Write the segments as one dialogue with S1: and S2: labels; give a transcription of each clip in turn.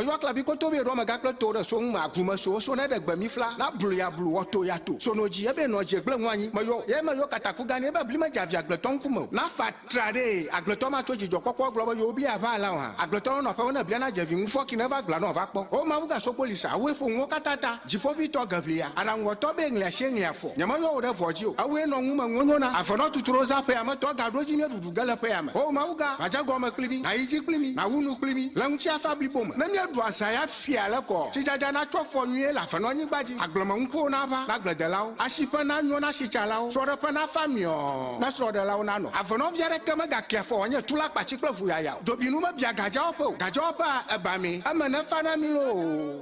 S1: Meyɔ klabi koto be ɖɔ mega kple to ɖe so ŋu ma gru me so so ne ɖe gbe mi fla na blu ya blu wɔ to ya to so no dzi ebe nɔ dzi egble ŋu anyi meyɔ ye meyɔ kataku gan ebe bli me dze avi agbletɔ ŋku me o na fa tra ɖe agbletɔ ma tso dzidzɔ kpɔkpɔ egblɔ be yewo bli ya va alao hã agbletɔ nɔ aƒe me ne blia na dze vi ŋu fɔ ki ne va gbla nɔ va kpɔ o mawu ga so kpoli sa awue ƒo ŋuwo kata ta dziƒovi tɔ ge ʋlia aɖaŋu wɔ tɔ be ŋli asi ŋli afɔ. Nyemenyɔ wò ɖe vɔ̃ dzi o. Ewòe nɔ ŋume ŋonyo na. Ave nɔ tutu ɖo zã ƒea me tɔ gaɖo edzi mía ɖuɖu ge le ƒea me. Oo Mawu gã, va dze gɔme kpli mí, nàyi dzi kpli mí, nàwu nu kpli mí le ŋutiafa blibo me. Ne míeɖu azã ya fia le kɔ, tsidzadza natsɔ afɔ nyuie le ave nɔ anyigba dzi, agblemenukuwo naʋã na agbledelawo, asiƒe nanyo na asitsalawo, srɔ̃ɖeƒe nafa miɔ na srɔ̃ɖelawo nanɔ. Ave nɔvi aɖeke megakea afɔ wòanye tulakpatsi kple ʋuyaya o. Dzobinu mebia gadzewɔƒe o, gadzewɔƒea ebamee, eme nefa na mí loo.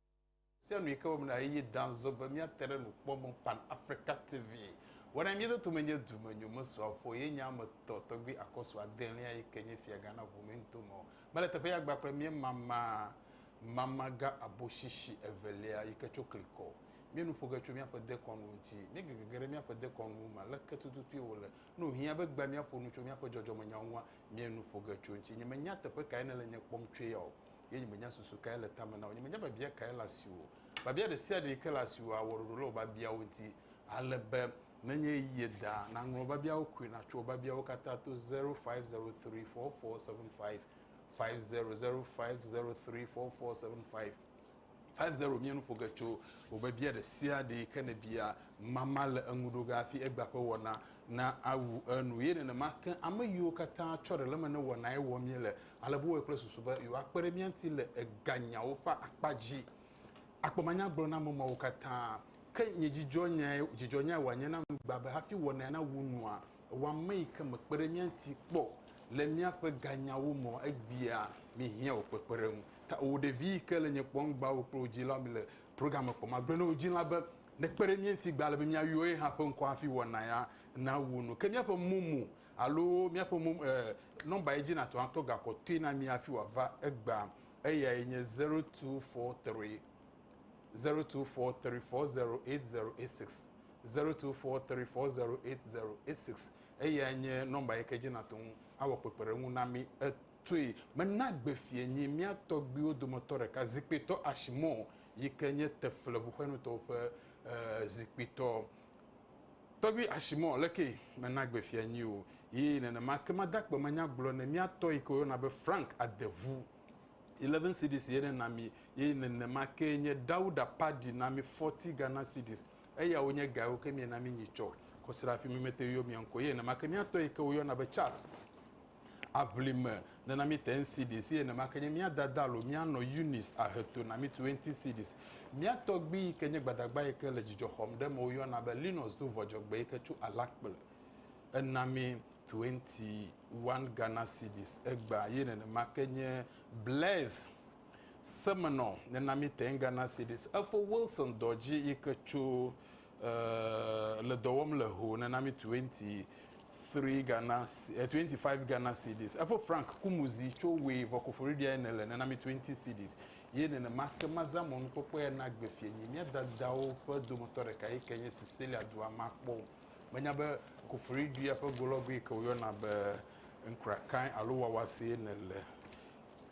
S2: Sea nu yi ke wɔm na eye da nzɔ be míate ɖe nukpɔmɔ Pan Africa TV wɔna mía dɔ tome nye dume nyomesua ƒo ye nye ame tɔ tɔgbi akɔsu adelia yi ke nye fia gã na ʋu mintome mele teƒe ya gba kple mía mama mama gã aboshishi evelia yi ke tso klikɔ mía nu ƒoge tso míaƒe dekɔnu ŋuti mía gegege ɖe míaƒe dekɔnu ma leke tututui wole ne wòhiã be gba mía ƒo nu tso míaƒe dzɔdzɔmenyawo ŋua mía nu ƒoge tso ŋuti nye menya teƒe kae nele nye kpɔm tsoe ya o ye nyemenya susu kae le tame na wò, nyemenya biabia kae le asiwò o. Biabia ɖe sia ɖe yi ke le asiwò awɔ ɖoɖo le wò biabiawo ŋuti ale be nenye eye da, nàŋlɔ biabiawo koe, nàtso wò biabiawo katã to zero five zero three four four seven five five zero zero five zero three four four seven five five zero. Míe nu ƒo ge tso wò biabia ɖe sia ɖe yi ke nèbia. Mama le eŋu ɖo ge hafi egbea ƒe wɔna na awu enu. Ye nenema ke ame yiwo katã tsɔ ɖe le eme ne wɔnae wɔm míele Ale wowɔe kple susu be yewoakpe ɖe mía ŋuti le eganyawo ƒe akpa dzi. Akpɔ manyagblɔɖiamemeawo katã. Ke nye dzidzɔnyae dzidzɔnyae wòanye na nu gbã be hafi wɔnae nawu nua, ewɔ ame yi ke mekpe ɖe mía ŋuti kpɔ le míaƒe ganyawo me o, egbea míehiã wò kpekpeɖeŋu. Tawò ɖevi yi ke le nye kpɔm gbawò kple wò dzilawo le program me kpɔm. Agblɔ na wò dzila be nekpe ɖe mía ŋuti gbã ale be míayɔ ye hã ƒe ŋkɔ hafi wɔnaea nawu nu. Ke míaƒe mo mo Alo míaƒe mo, e, nɔmba ye dzi nàtɔ atɔ ga kɔtɔe na mí hafi wòava egbea, eyae nye 0243 0243 408086, 0243 408086, eyae nye nɔmba yi ke dzi nàtɔ ŋu awɔ kpekpeɖeŋu na mí etoe. Mena gbe fiẽ nyi mía tɔgbuiwo dometɔ ɖeka, zikpuitɔ Ashmore yi ke nye Tefle ʋuxɔenutɔwo ƒe, e, zikpuitɔ. Tɔgbi Ashimɔ le ke me na gbe fia nyi o yi nenema ke ma da kpe ma nya gblɔ ne mia tɔ yi ke wo yɔna be Frank Adevu. Eleven cedis ye ne na mi ye nenema ke nye Dauda Padi na mi forty Ghana cedis. Eya wo nye ga yi wo ke mie na mi nyi tsɔ kɔsiɖe afi mi me te yɔ mia ŋkɔ ye nenema ke mia tɔ yi ke wo yɔna be Charles. Aʋli me nana mí te ŋsidis, eye nene ma ke nye mía dada alo mía nɔ Yunis ahe to na mí tu ŋtisidis. Mía tɔgbui yi ke nye gbadagba yi ke le dzidzɔ xɔm ɖe eme woyɔna be Linus do vɔ dzɔgbe yi ke tso Alakple. Ena mí tu eŋti one Ghana cedis egbea, eye nene ma ke nye Blaise semenɔ nena mí te ŋGhana cedis. Efo Wilson Dɔdzi yi ke tso eh, le dɔ wɔm le ho nena mi 23 Ghana, eh, 25 Ghana cedis. Efo Frank Kumuzi tso we vɔ koforiɖia ene le nena mi 20 cedis. Ye nenema ke mazã mɔnukpɔkpɔ ya na gbe fienyi mía dadawo ƒe dometɔ ɖeka yi ke nye Cecilia dua makpɔ. Menya be koforiɖia ƒe golɔgui yi ke woyɔna be nkrakae alo wawasee nele.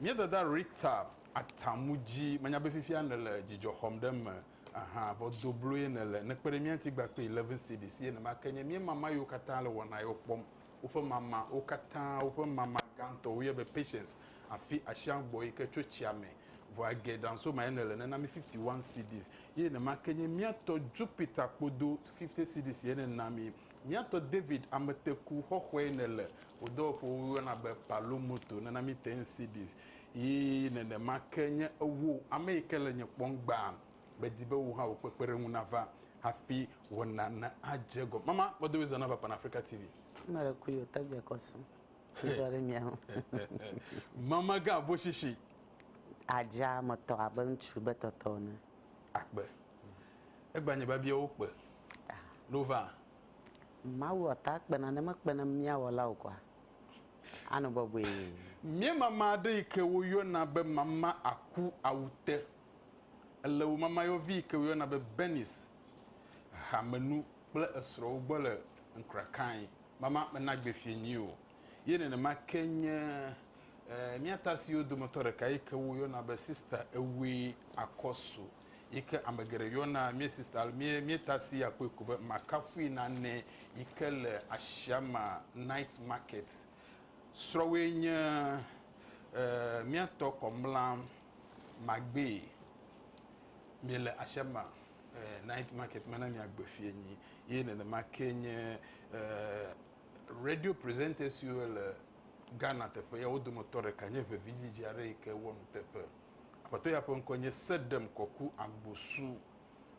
S2: Mía dada Rita Atamudzi, menya be fifia nele dzidzɔ xɔm ɖe eme. Aha, vɔ do blo ye nèle. Nèkpe ɖe mía ŋuti gba kpe eleven cedis ye nèma ke nye. Míema ma yiwo katã le wɔna yewo kpɔm. Woƒe mama, wo katã, woƒe mama gãtɔ woyɔe be Patience afi asiã gbɔ yike tso tsia me. Vɔ age Dansooma ye nèle, nèna mí fifty one cedis ye nèma ke nye. Mía tɔ Jupiter kpodo fifty cedis ye nèna mí. Mía tɔ David ameteku xɔxɔe nèle. Wò dɔwɔƒewo woyɔna be Palo Moto, nèna mí ten cedis Yi nenema ke nye ewoo, ame yi ke le nye kpɔm gbaa medi be wò hã wò kpekpeɖeŋu nava hafi wɔna nadze egɔme. Mama, mɔdo wezɔ nava Pan Africa TV. Mele kui o
S3: tɔgbe kɔsu. Zɔ ɖe mia ho.
S2: Mama ga abo shishi. Adza
S3: me tɔ abe ŋutsu be tɔtɔ ne. Akpe.
S2: Egba nye babia wo kpe. Ah. Nova.
S3: Mawu ɔta kpena ne mekpena mia wɔla o kwa. Anɔ bɔbɔe. Mía mama
S2: aɖe yi ke woyɔna be mama aku awute. Ele wò mamayɔvi yi ke woyɔna be Bernice, hamenu kple esrɔ̃wo gbɔ le Nkrakae. Mama mena gbe fiẽ nyui o. Ye nenema ke nye mía tasiwo dometɔ ɖeka yi ke woyɔna be Sister Ewe Akosu. yi ke ame geɖe yɔna mía sista mía mía ta si akpɔe ko be makafui nane yi ke le asiama night market srɔ̃woe nye eh, mía tɔ kɔmla magbe mi le asiama eh, night market mana mi agbe fie nyi ye nenema ke nye eh, radio presenters siwo le Ghana teƒe ya wo dometɔ ɖeka nye ʋevi dzidzi aɖe yi ke wɔ nuteƒe. Aƒetɔ ya ƒe ŋkɔe nye Sedem Kɔku Agbosu.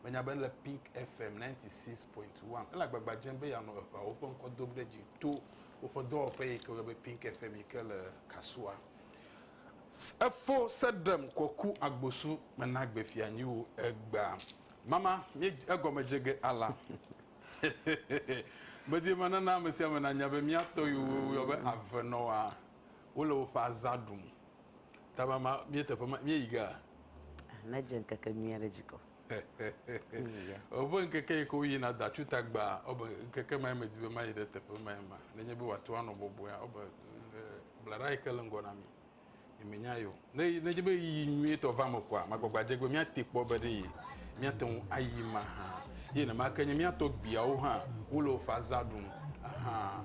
S2: Menya be ele Pink FM 96.1. Ele agbagba dzem be yeanɔ eŋawo ƒe ŋkɔ dom ɖe dzi to woƒe dɔwɔƒe yi ke woyɔna be Pink FM yi ke le Kasua. Efo Sedem Kɔku Agbosu, mena gbe fia nyi wò egbea. Mama, mí egɔme dze ge ala. Medi be nana ame sia ame nanya be mía tɔ yiwo woyɔ be avenɔwoa, wole woƒe azã ɖum. Tamama, mie teƒe ma, mie yi gaa. Ah, na dze
S3: ŋkeke nyuia ɖe dzi kɔ.
S2: Ɔbe ŋkeke yi ke woyi na da tsu tagba, ɔbe ŋkeke ma me di be ma yi ɖe teƒe ma ma. Ne nye be wa to anɔ bɔbɔe, ɔbe blaɖa yi ke le ŋgɔ na mi. Mi me nya yo. Ne ne nye be yi nyuie tɔ va me kɔa, ma gbagba dze gbe mi ate kpɔ be ɖe yi. Mi ate ŋu ayi ma ha. Ye ne ma ke nye mi atɔ gbiawo ha, wo le o fa za ɖum. Aha.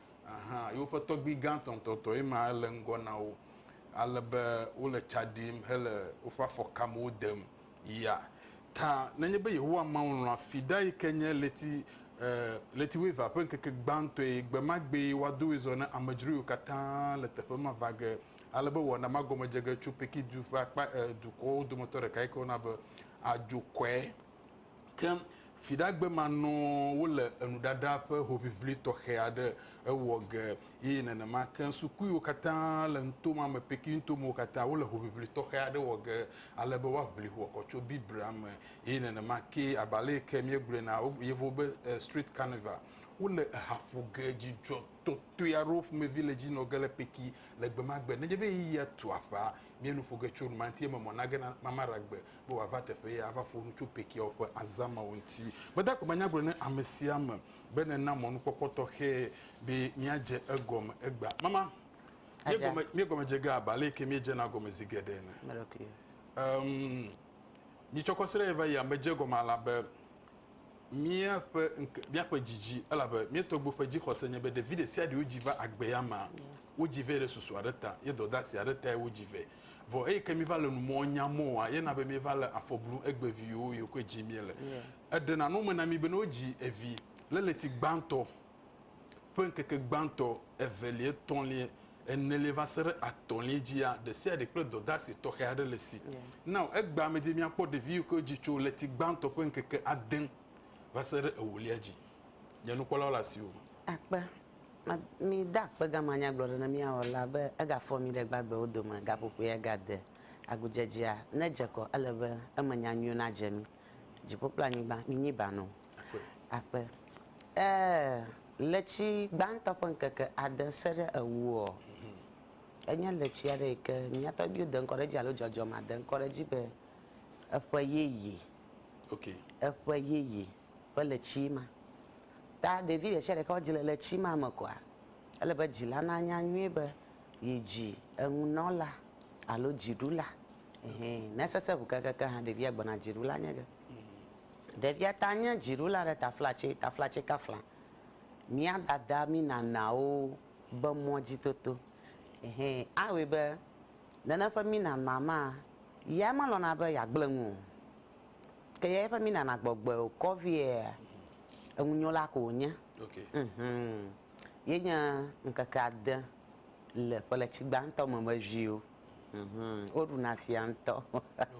S2: Ahã, yewoƒe tɔgbui gã tɔntɔtɔe ma le ŋgɔ na wo ale be wole tsa ɖim hele woƒe afɔkamewo dem yia ta. Nenye be Yehowa Mawu lɔ̃a Fida yi ke nye ɣleti, e, ɣleti wuievea ƒe ŋkeke gbãtɔe, gbe ma gbee woado woe zɔ ne amedzro yiwo katã le teƒe ma va ge, ale be wɔna ma gɔme dze ge tso Peki-du ƒe akpa, e, dukɔwo dometɔ ɖeka yi ke woyɔna be Adzokɔe. Ke viɖegbemanɔwo le enuɖaɖa ƒe hoʋiʋli tɔxɛ aɖe ewɔ ge eye nenema ke sukuiwo katã le nuto ma me, Peking-tomewo katã, wole hoʋiʋli tɔxɛ aɖe wɔ ge ale be woaʋli hoɔkɔ tso Biblia me. Eye nenema kee, abe ale yi ke míegblɔe na yevuwo be Street Carnival, wole eha ƒo ge dzidzɔ tɔtɔe aɖe wo ƒomevi le edzi nɔ ge le Peking le gbemagbe. Nenye be ɣeyiɣia tu aƒea, míenu ƒo ge tso numanti eme mɔ nage na Mama Ragbe be wòava teƒee ava ƒo nu tso Pekiawo ƒe azã mawo ŋuti. Gbedagbe manya gblɔ ne ame sia ame be nena mɔnukpɔkpɔ tɔxɛ be míadze egɔme egbea. Mama, míegɔme, míegɔme dze ge abe ale yi ke míedzena egɔme zi geɖe ene. Em, mitsɔ kɔ srɛ va yia medze egɔme alabe míaƒe ŋke, míaƒe dzidzi, elabe mía tɔgbuiwo ƒe dzixɔse nye be ɖevi ɖe sia ɖe wodzi va agbea mea, wodzi vɛ ɖe susu aɖe ta ye dɔdeasi aɖe tae wodzi vɛ. Vɔ eyi ke mi va le nu mɔ nya mɔ wa ye na be mi va le afɔ blu egbe vi yo yo ko dzi mi le. Eɖe na no me na mi be no dzi evi le le ti gbantɔ ƒe ŋkeke gbantɔ evelie tɔlie enelie va se ɖe atɔlie dzi ya ɖe sia ɖe kple dɔdasi tɔxɛ aɖe le si. Nao egbea me dzi mi akpɔ ɖevi yi ko dzi tso le ti gbantɔ ƒe ŋkeke ade va se ɖe ewolia dzi. Nye nukpɔlawo le asi wo me. Akpe
S3: Ma, mide akpe gama nyagblɔɖi ne mía wɔla be egafɔ mí ɖe gbagbewo dome gaƒoƒoea gade agudzedzea ne dze kɔ ele be eme nya nyuiwo nadze mí. Dziƒo kple anyigba minyi ba nɔ akpe. Ee, ɣleti gbãtɔ ƒe ŋkeke ade se ɖe ewuɔ, enye ɣleti aɖe yi ke mía tɔgbiwo de ŋkɔ ɖe edzi alo dzɔdzɔmea de ŋkɔ ɖe edzi be eƒe yeye. Ok.
S2: Eƒe yeye.
S3: Ƒe le tsi ma. Ta ɖevi ɖe sia ɖe ke wodzi le le tsi ma me koa, ele be dzila nanya nyuie be yi dzi eŋunɔla alo dziɖula ehe. Ne sese ŋu keŋkeŋkeŋ hã ɖevia gbɔna dziɖula nye ge. Ɖevia ta nye dziɖula ɖe taflatse taflatse ka fla mía dada mí nanawo be mɔ dzi toto ehe. Awɔe be nene ƒe mí nana ma ya melɔ̃na be yeagblẽ nu o. Ke ya eƒe mina nagbɔgbe o kɔ viea eŋunyola ko wònye. Okay. Mhm. Yenye ŋkeke ade le ƒeletsi gbãtɔ me me viwo. Mhm. Woɖuna fia ŋutɔ.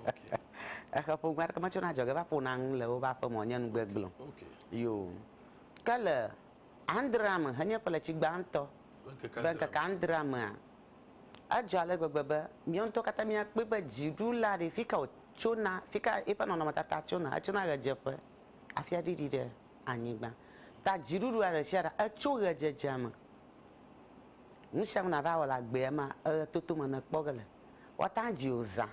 S3: Okay.
S2: Exe ƒome
S3: aɖeke metsona adzɔge va ƒona nu le woƒe aƒeme o, nye nu gbegblẽ o. Okay. Yo. Ke le adrea me henye ƒeletsi gbãtɔ ƒe ŋkeke adrea mea, Adzɔ ale gbegbe be míawo ŋutɔ katã míakpɔe be dziɖula ɖe fika wòtsona, fika eƒe nɔnɔmetata tsona. Etsona ɣedzeƒe hafi aɖiɖi ɖe anyigba. Ta dziɖuɖua ɖesiaɖe etso ɣedzedzea me. Nusianu nàva wɔ le agbea mea, eɣetoto me nèkpɔ ge le. Woate ŋu adzi wò zã,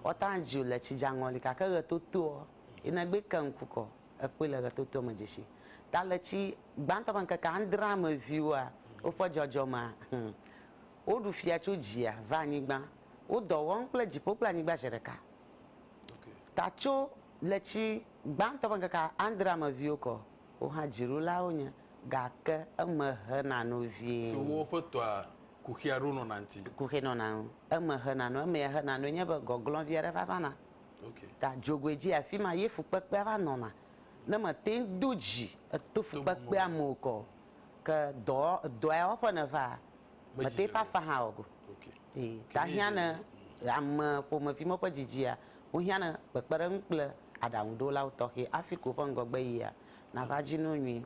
S3: woate ŋu adzi wò le tsidzaŋɔli gake ɣetotoa yi nègbe ke ŋku kɔ. Ekpɔe le ɣetotoa me dzesi Taletsi gbãtɔ ƒe ŋkeke adrea me viwoa woƒe dzɔdzɔmea, hum, woɖu fia tso dzia va anyigba, wo dɔ wɔm kple dziƒo kple anyigba zi ɖeka.
S2: Ta tso
S3: letsi gbãtɔ ƒe ŋkeke adrea me viwo kɔ, wo hã dziɖulawo nye, gake eme hena nu vie. Tso woƒe tɔa
S2: kuxia ɖo nɔna ŋuti. Kuxi nɔna ŋu,
S3: eme hena nu, emea hena nue nye be gɔglɔ̃ vi aɖe va vana. ta
S2: dzogoe dzi
S3: afi ma ye fukpekpea va nɔna. Ne mète ŋu do dzi to fukpekpea me o kɔ o, ke dɔ dɔ ya wɔƒe nèva, mète ŋu ƒe afã hã wɔ ge o. Ee, ta
S2: hiã ne
S3: ame ƒomevi ma ƒe dzidzia, wohiã ne kpekpeɖeŋu kple aɖaŋuɖolawo tɔxɛ hafi ke woƒe ŋgɔgbe yia, nava dzi no nyuie.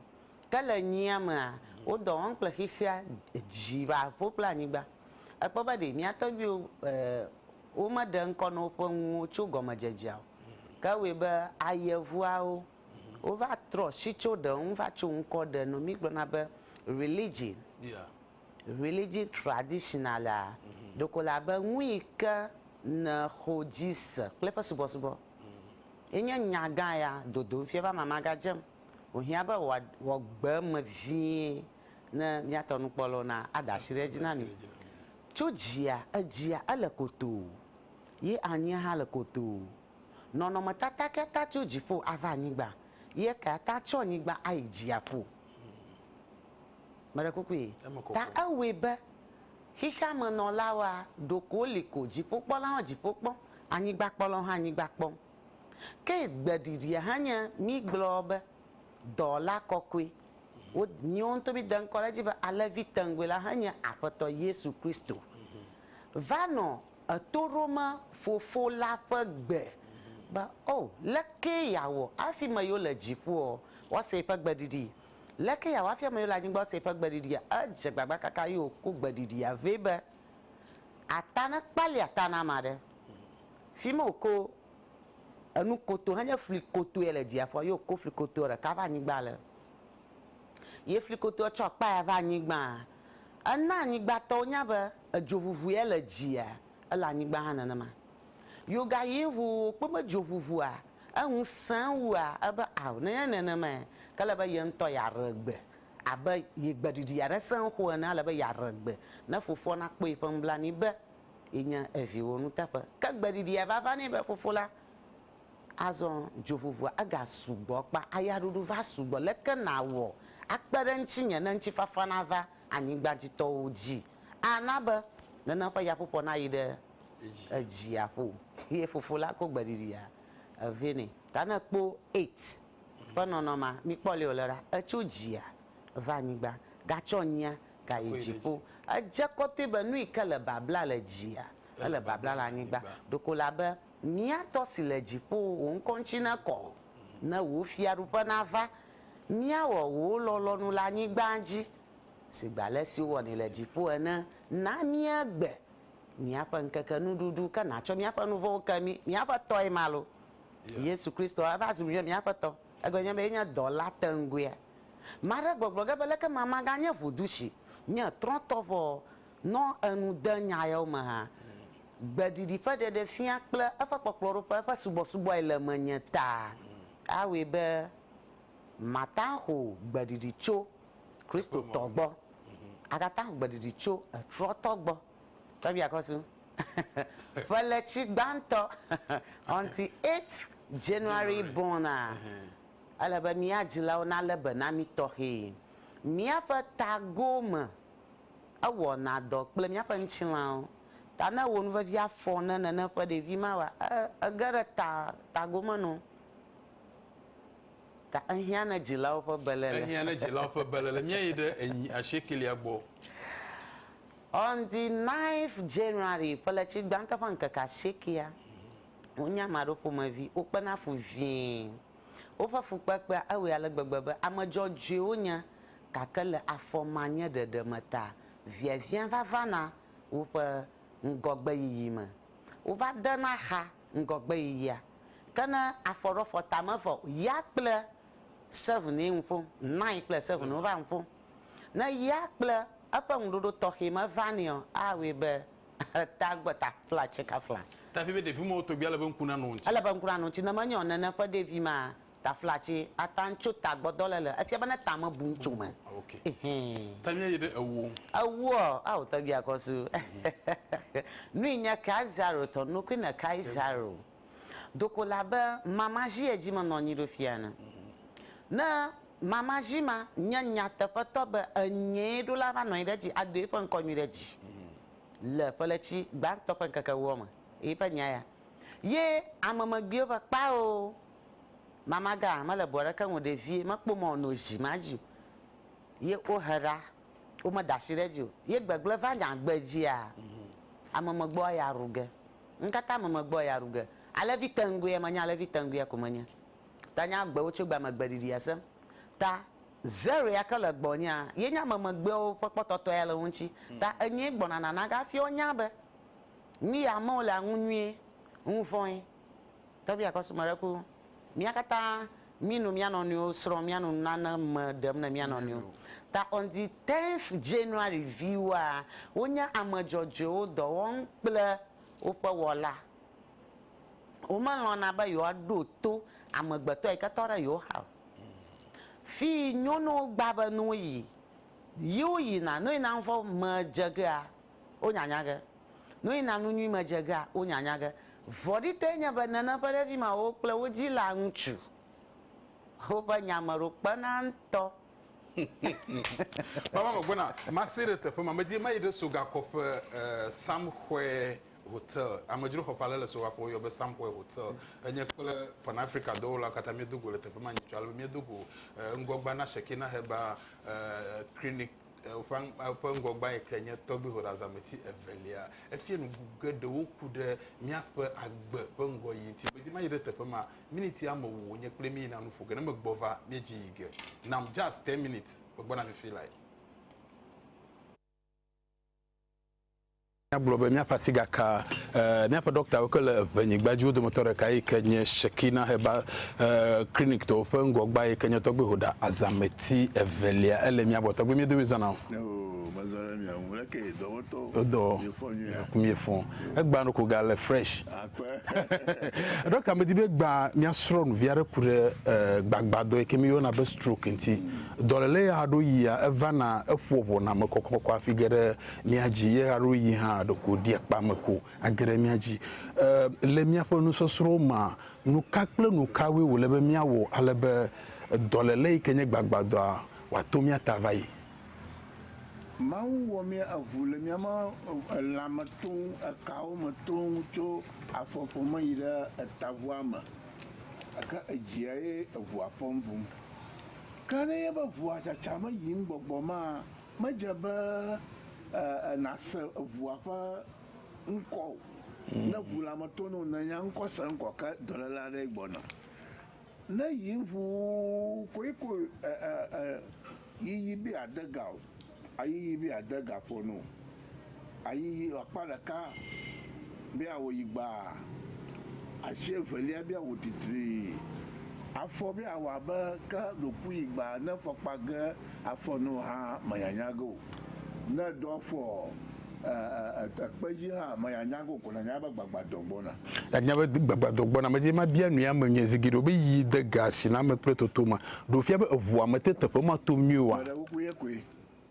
S3: Ke le nyia mea, wo dɔ wɔm kple xexea, dzi va ƒo kple anyigba. Èkpɔ be ɖe mía tɔgbuiwo e womeɖe ŋkɔ na woƒe nuwo tso gɔmedzedzea o. Ke ewɔe be ayevuawo wova trɔ si tso ɖe ŋu va tso ŋkɔ ɖe nu. Mígblɔna be religion, religion traditional a, ɖeko le abe nu yi ke nèxɔ dzi se kple eƒe subɔsubɔ. Enye nya gã ya, dodom fia be amama gadzem. Wòhiã be wòawɔ gbe eme vie ne míatɔ nukpɔlawo na ade asi ɖe edzi na mí. Tso dzia, edzia ele kotoo, ye anyia hã le kotoo. Nɔnɔmetata kae ata tso dziƒo ava anyigba, ye ekae ata tso anyigba ayi dziaƒo? Meɖe kukue, ta ewɔe be xexeamenɔlawoa, ɖeko woli ko, dziƒokpɔlawo hã dziƒo kpɔm, anyigbakpɔlawo hã anyigba kpɔm. Ke gbe ɖiɖia hã nye mígblɔ be dɔla kɔkɔe. Wo míwo ŋutɔ míde ŋkɔ ɖe edzi be alẽvi teŋgui la hã nye Aƒetɔ Yesu Kristo. Va nɔ eto ɖom Fofo la ƒe gbe be, O, leke yeawɔ afi ame yiwo le dziƒoa woase eƒe gbe ɖiɖii? Leke yeawɔ afi ame yiwo le anyigba woase eƒe gbe ɖiɖia? Edze gbagba kaka eye wòko gbe ɖiɖia vɛ be, Ata nekpalia ta na ame aɖe, Fi ma wòko enu koto henye fli kotoe le dziaƒɔ ye wòko fli kotoe ɖeka va anyigba le. Ye fli kotoe tsɔ akpa ya va anyigbaa, ena anyigbatɔwo nya be edzo ʋuʋu ye le dzia, ele anyigba hã nenema. Ye wogayi ŋu wòkpɔ be dzo ʋuʋua eŋu sẽ wua ebe ao, nenye nenemae, ke ele be ye ŋutɔ yeaɖe gbe abe ye gbeɖiɖi aɖe sẽ xoxo ene, ele be yeaɖe gbe ne fofoa nakpɔ yeƒe nublanui be, Ye nya eviwo nu teƒe. Ke gbeɖiɖia va va nɛ be, Fofo la, azɔ dzoʋuʋua ega sugbɔ kpa ayaɖuɖu va sugbɔ, leke nàwɔ akpe ɖe ŋtsinye ne ŋtsifafa nava anyigbadzitɔwo dzi ana be nene ƒe yaƒoƒoa nayi ɖe edzia ƒo? Ye fofo la ko gbeɖiɖia vɛ nɛ. Ta ne èkpɔ aids ƒe nɔnɔmea, mikpɔ ale wòle ɖa, etso dzia va anyigba gatsɔ nyia gayi dziƒo. Edze kɔtɔe be nu yi ke le babla le dzia, ele babla le anyigba. Ɖeko ele abe, Mía Tɔ si le dziƒo, wò ŋkɔ ŋuti nekɔ, ne wò fiaɖuƒe nava. Míawɔ wò lɔlɔ̃nu le anyigba dzi si gbe ale si wowɔnɛ le dziƒo ene. Na míegbe míaƒe ŋkeke nuɖuɖu, ke nàtsɔ míaƒe nu vɔ̃wo ke mí. Míaƒe Tɔe ma loo. Yesu Kristo eva zu míaƒe Aƒetɔ. Egɔme nye be yenye dɔla teŋgɔea. Ame aɖe gbɔgblɔ ge be, Leke ma maganye ʋudu si nye trɔtɔ vɔ nɔ enu de nya yawo me hã? Gbeɖiɖi ƒe ɖeɖefia kple eƒe kpɔkplɔɖoƒe, eƒe subɔsubɔe le menye ta awɔe be mata ho gbeɖiɖi tso Kristotɔ gbɔ, agata ho gbeɖiɖi tso trɔtɔ gbɔ. Tɔgbia Kɔsu, Ƒeletsi gbãtɔ, on the eighth January born a? Ele be mía dzilawo nalé be na mí tɔxɛe. Míaƒe tagowo me ewɔna dɔ kple míaƒe ŋutilãwo. Ta ne ewɔ nu vevi afɔ ne nène ƒe ɖevi mawɔa? Ẽ, ege ɖe ta, tago me nɔ. Ta ehiã ne dzilawo ƒe beléle. Ehiã ne dzilawo ƒe
S2: beléle. Míeyi ɖe enyi asiekɛlia gbɔ.
S3: On the ninth January, ƒeletsi gbãtɔ ƒe ŋkeke asiekɛa, Wonye ame aɖewo ƒomevi. Wokpena fu vie. Woƒe fukpekpea ewɔe ale gbegbe be ame dzɔdzɔe wonye, gake le afɔmanyeɖeɖe me ta, viaviã va vana woƒe ŋgɔgbeyiyi me. Wova dena xa ŋgɔgbeyiyia. Ke ne afɔ ɖo afɔ ta me vɔ o, ya kple seven ye ŋu ƒom, nine kple seven wova ŋu ƒom. Ne ya kple eƒe ŋuɖoɖo tɔxɛ me va nɛa, awɔe be Tagbeta kple atikefla. Tafi be ɖevi mɔwo tɔgbi
S2: ale be ŋku nanɔ wo ŋuti. Ele be ŋku nanɔ wo ŋuti ne menye
S3: o nene ƒe ɖevi ma tafla atsi ata ŋtso ta gbɔdɔ le le efia be ne ta me bu ŋtso me. Ok. Ehee.
S2: Ta mia yi ɖe ewu o. Ewu ɔ ao
S3: tɔgbi akɔ su. Nui nye Kaisaro tɔ nukui ne Kaisaro. Do ko le abe mamadzi ye dzi menɔ anyi ɖo fia ene. Ne mamadzi ma nye nyateƒetɔ be enyee ɖo la va nɔ anyi ɖe edzi ado eƒe ŋkɔ nyui ɖe dzi le ƒeletsi gbãtɔ ƒe ŋkeke ewoa me. Eƒe nya ya ye ame megbiwo be kpao mamaga mele bu aɖeke ŋu o ɖevie mekpɔ mɔ wòno zi ma dzi o ye wohe ɖa womeda asi ɖe edzi o ye gbegblẽ va nya gbedzia ame megbewoa ya ru ge. Ŋkaka me megbɔ ya ɖu ge. Alẽvi tɛnŋgoea menye alẽvi tɛnŋgoea ko menye. Ta nye agbewo tso gbea me gbeɖiɖia sẽ. Ta Zerre ya ke le gbɔnyea, ye nye ame megbeawo ƒe kpɔtɔtɔ ya le wo ŋuti. Ta enyee gbɔna nana gafiɔ nya be, mí ya amewo le aŋu nyuie, ŋuvɔ̃e. Tɔgbi Akɔsu mele ku mía katã mí nu mía nɔnɔewo srɔ̃ mía nu nane me ɖem ne mía nɔnɔewo. Ta on the tenth January viwoa wo nye ame dzɔdzɔewo dɔ wɔm kple woƒe wɔla. Wo me lɔ̃na be yewoa ɖo to amegbetɔ yi ke tɔ ɖe yewo xa o. Fii nyono gba be ne wo yi, yi wo yina, ne wo yina ŋvɔ me dze gea wonya nya ge. Nu yi na nu nyui me dze gea, wonya nya ge. Vɔ̃ɖitɔe nye be nèna ƒe ɖevi mawo kple wo dzila ŋutsu woƒe nya me ɖo kpena ŋutɔ.
S2: Mama megbɔna mase ɖe teƒe ma medzi mayi ɖe sogakɔƒe Samxwe hotel amedzroxɔ ƒe ale le sogakɔƒe woyɔ be Samxwe hotel enye kple pan Africa dɔwɔlawo katã miedo go le teƒe ma nyitsɔ ale be miedo go ŋgɔgbea na Shekinah Herbal clinic Eƒe ŋgɔgbãe ke nye tɔgbuihoɖeazãmeti evelia. Efia nuŋu geɖewo ku ɖe míaƒe agbe ƒe ŋgɔyiyi ŋuti. Medi mayi ɖe teƒe ma. Miniti ame wu wònye kple mí yina nu ƒo ge. Ne megbɔ va, míedzi yi ge. Nam just ten minutes, megbɔna fifi lae. Míagblɔ be míaƒe asi gaka míaƒe ɖɔktawo ke le Eŋenyigba dzi, wo dometɔ ɖeka yi ke nye Shekina Herbal Clinic-tɔwo ƒe ŋgɔgbea yi ke nye Tɔgbi Hoda Azameti evelia. Ele mía gbɔ. Tɔgbi, miedo mizɔna o? Nya o, mezɔ ɖe mia ŋu. Leke dɔwɔtɔ? Wodɔ. Miefɔ nyuia? Ŋku miefɔ. Egbã nu ko gale fresh. Akpe. Ɖɔkta, medi be egbã mía srɔ̃nuvi aɖe ku ɖe gbagbadɔ yi ke míyɔna be stroke ŋuti. Dɔléle ya ɖo yia, evana, eƒoa ʋɔna me kɔkɔkɔkɔ hafi ge ɖe Mía dzi ye aɖo yi hã ɖeko ɖi akpa me ko age ɖe mía dzi. E, le míaƒe nusɔsrɔ̃wo mea, nuka kple nukawoe wòle be míawɔ ale be dɔléle yi ke nye gbagbadɔa wòato mía ta va yi?
S4: Mawu wɔ mí eŋu le míaƒe lãme toŋ, ekawo me toŋ, tso afɔƒo me yi ɖe etaʋua me, gake edzia ye eŋua fɔm vum. Ke ne nye be ŋua tsatsa me yim gbɔgbɔ mea, Medze be nàse eŋua ƒe ŋkɔ o. Ne ŋu la meto na wò nènya ŋkɔ se ŋkɔ ke dɔléle aɖee gbɔna. Ne yi ŋu koe ko yiyi be yeade ga o, ayiyi be yeade ga ƒo na wò. Ayiyi akpa ɖeka be awoyi gbaa, asi evelia be awo titrii. Afɔ be awɔ abe ke ɖoku yi gbaa ne fɔkpa ge afɔ na wò hã manyanya ge o. Ne èɖo afɔ ekpe dzi hã manyanya ge o ko nànya be gbagbadɔ gbɔna. Nànya be
S2: gbagbadɔ gbɔna. Medi be mabia nui ame nyuie zi geɖe o be yi de ga asi na ame kple toto ma. Ɖo fia be eŋua mete teƒe ma tom nyuie oa? Meɖe kuku ye koe.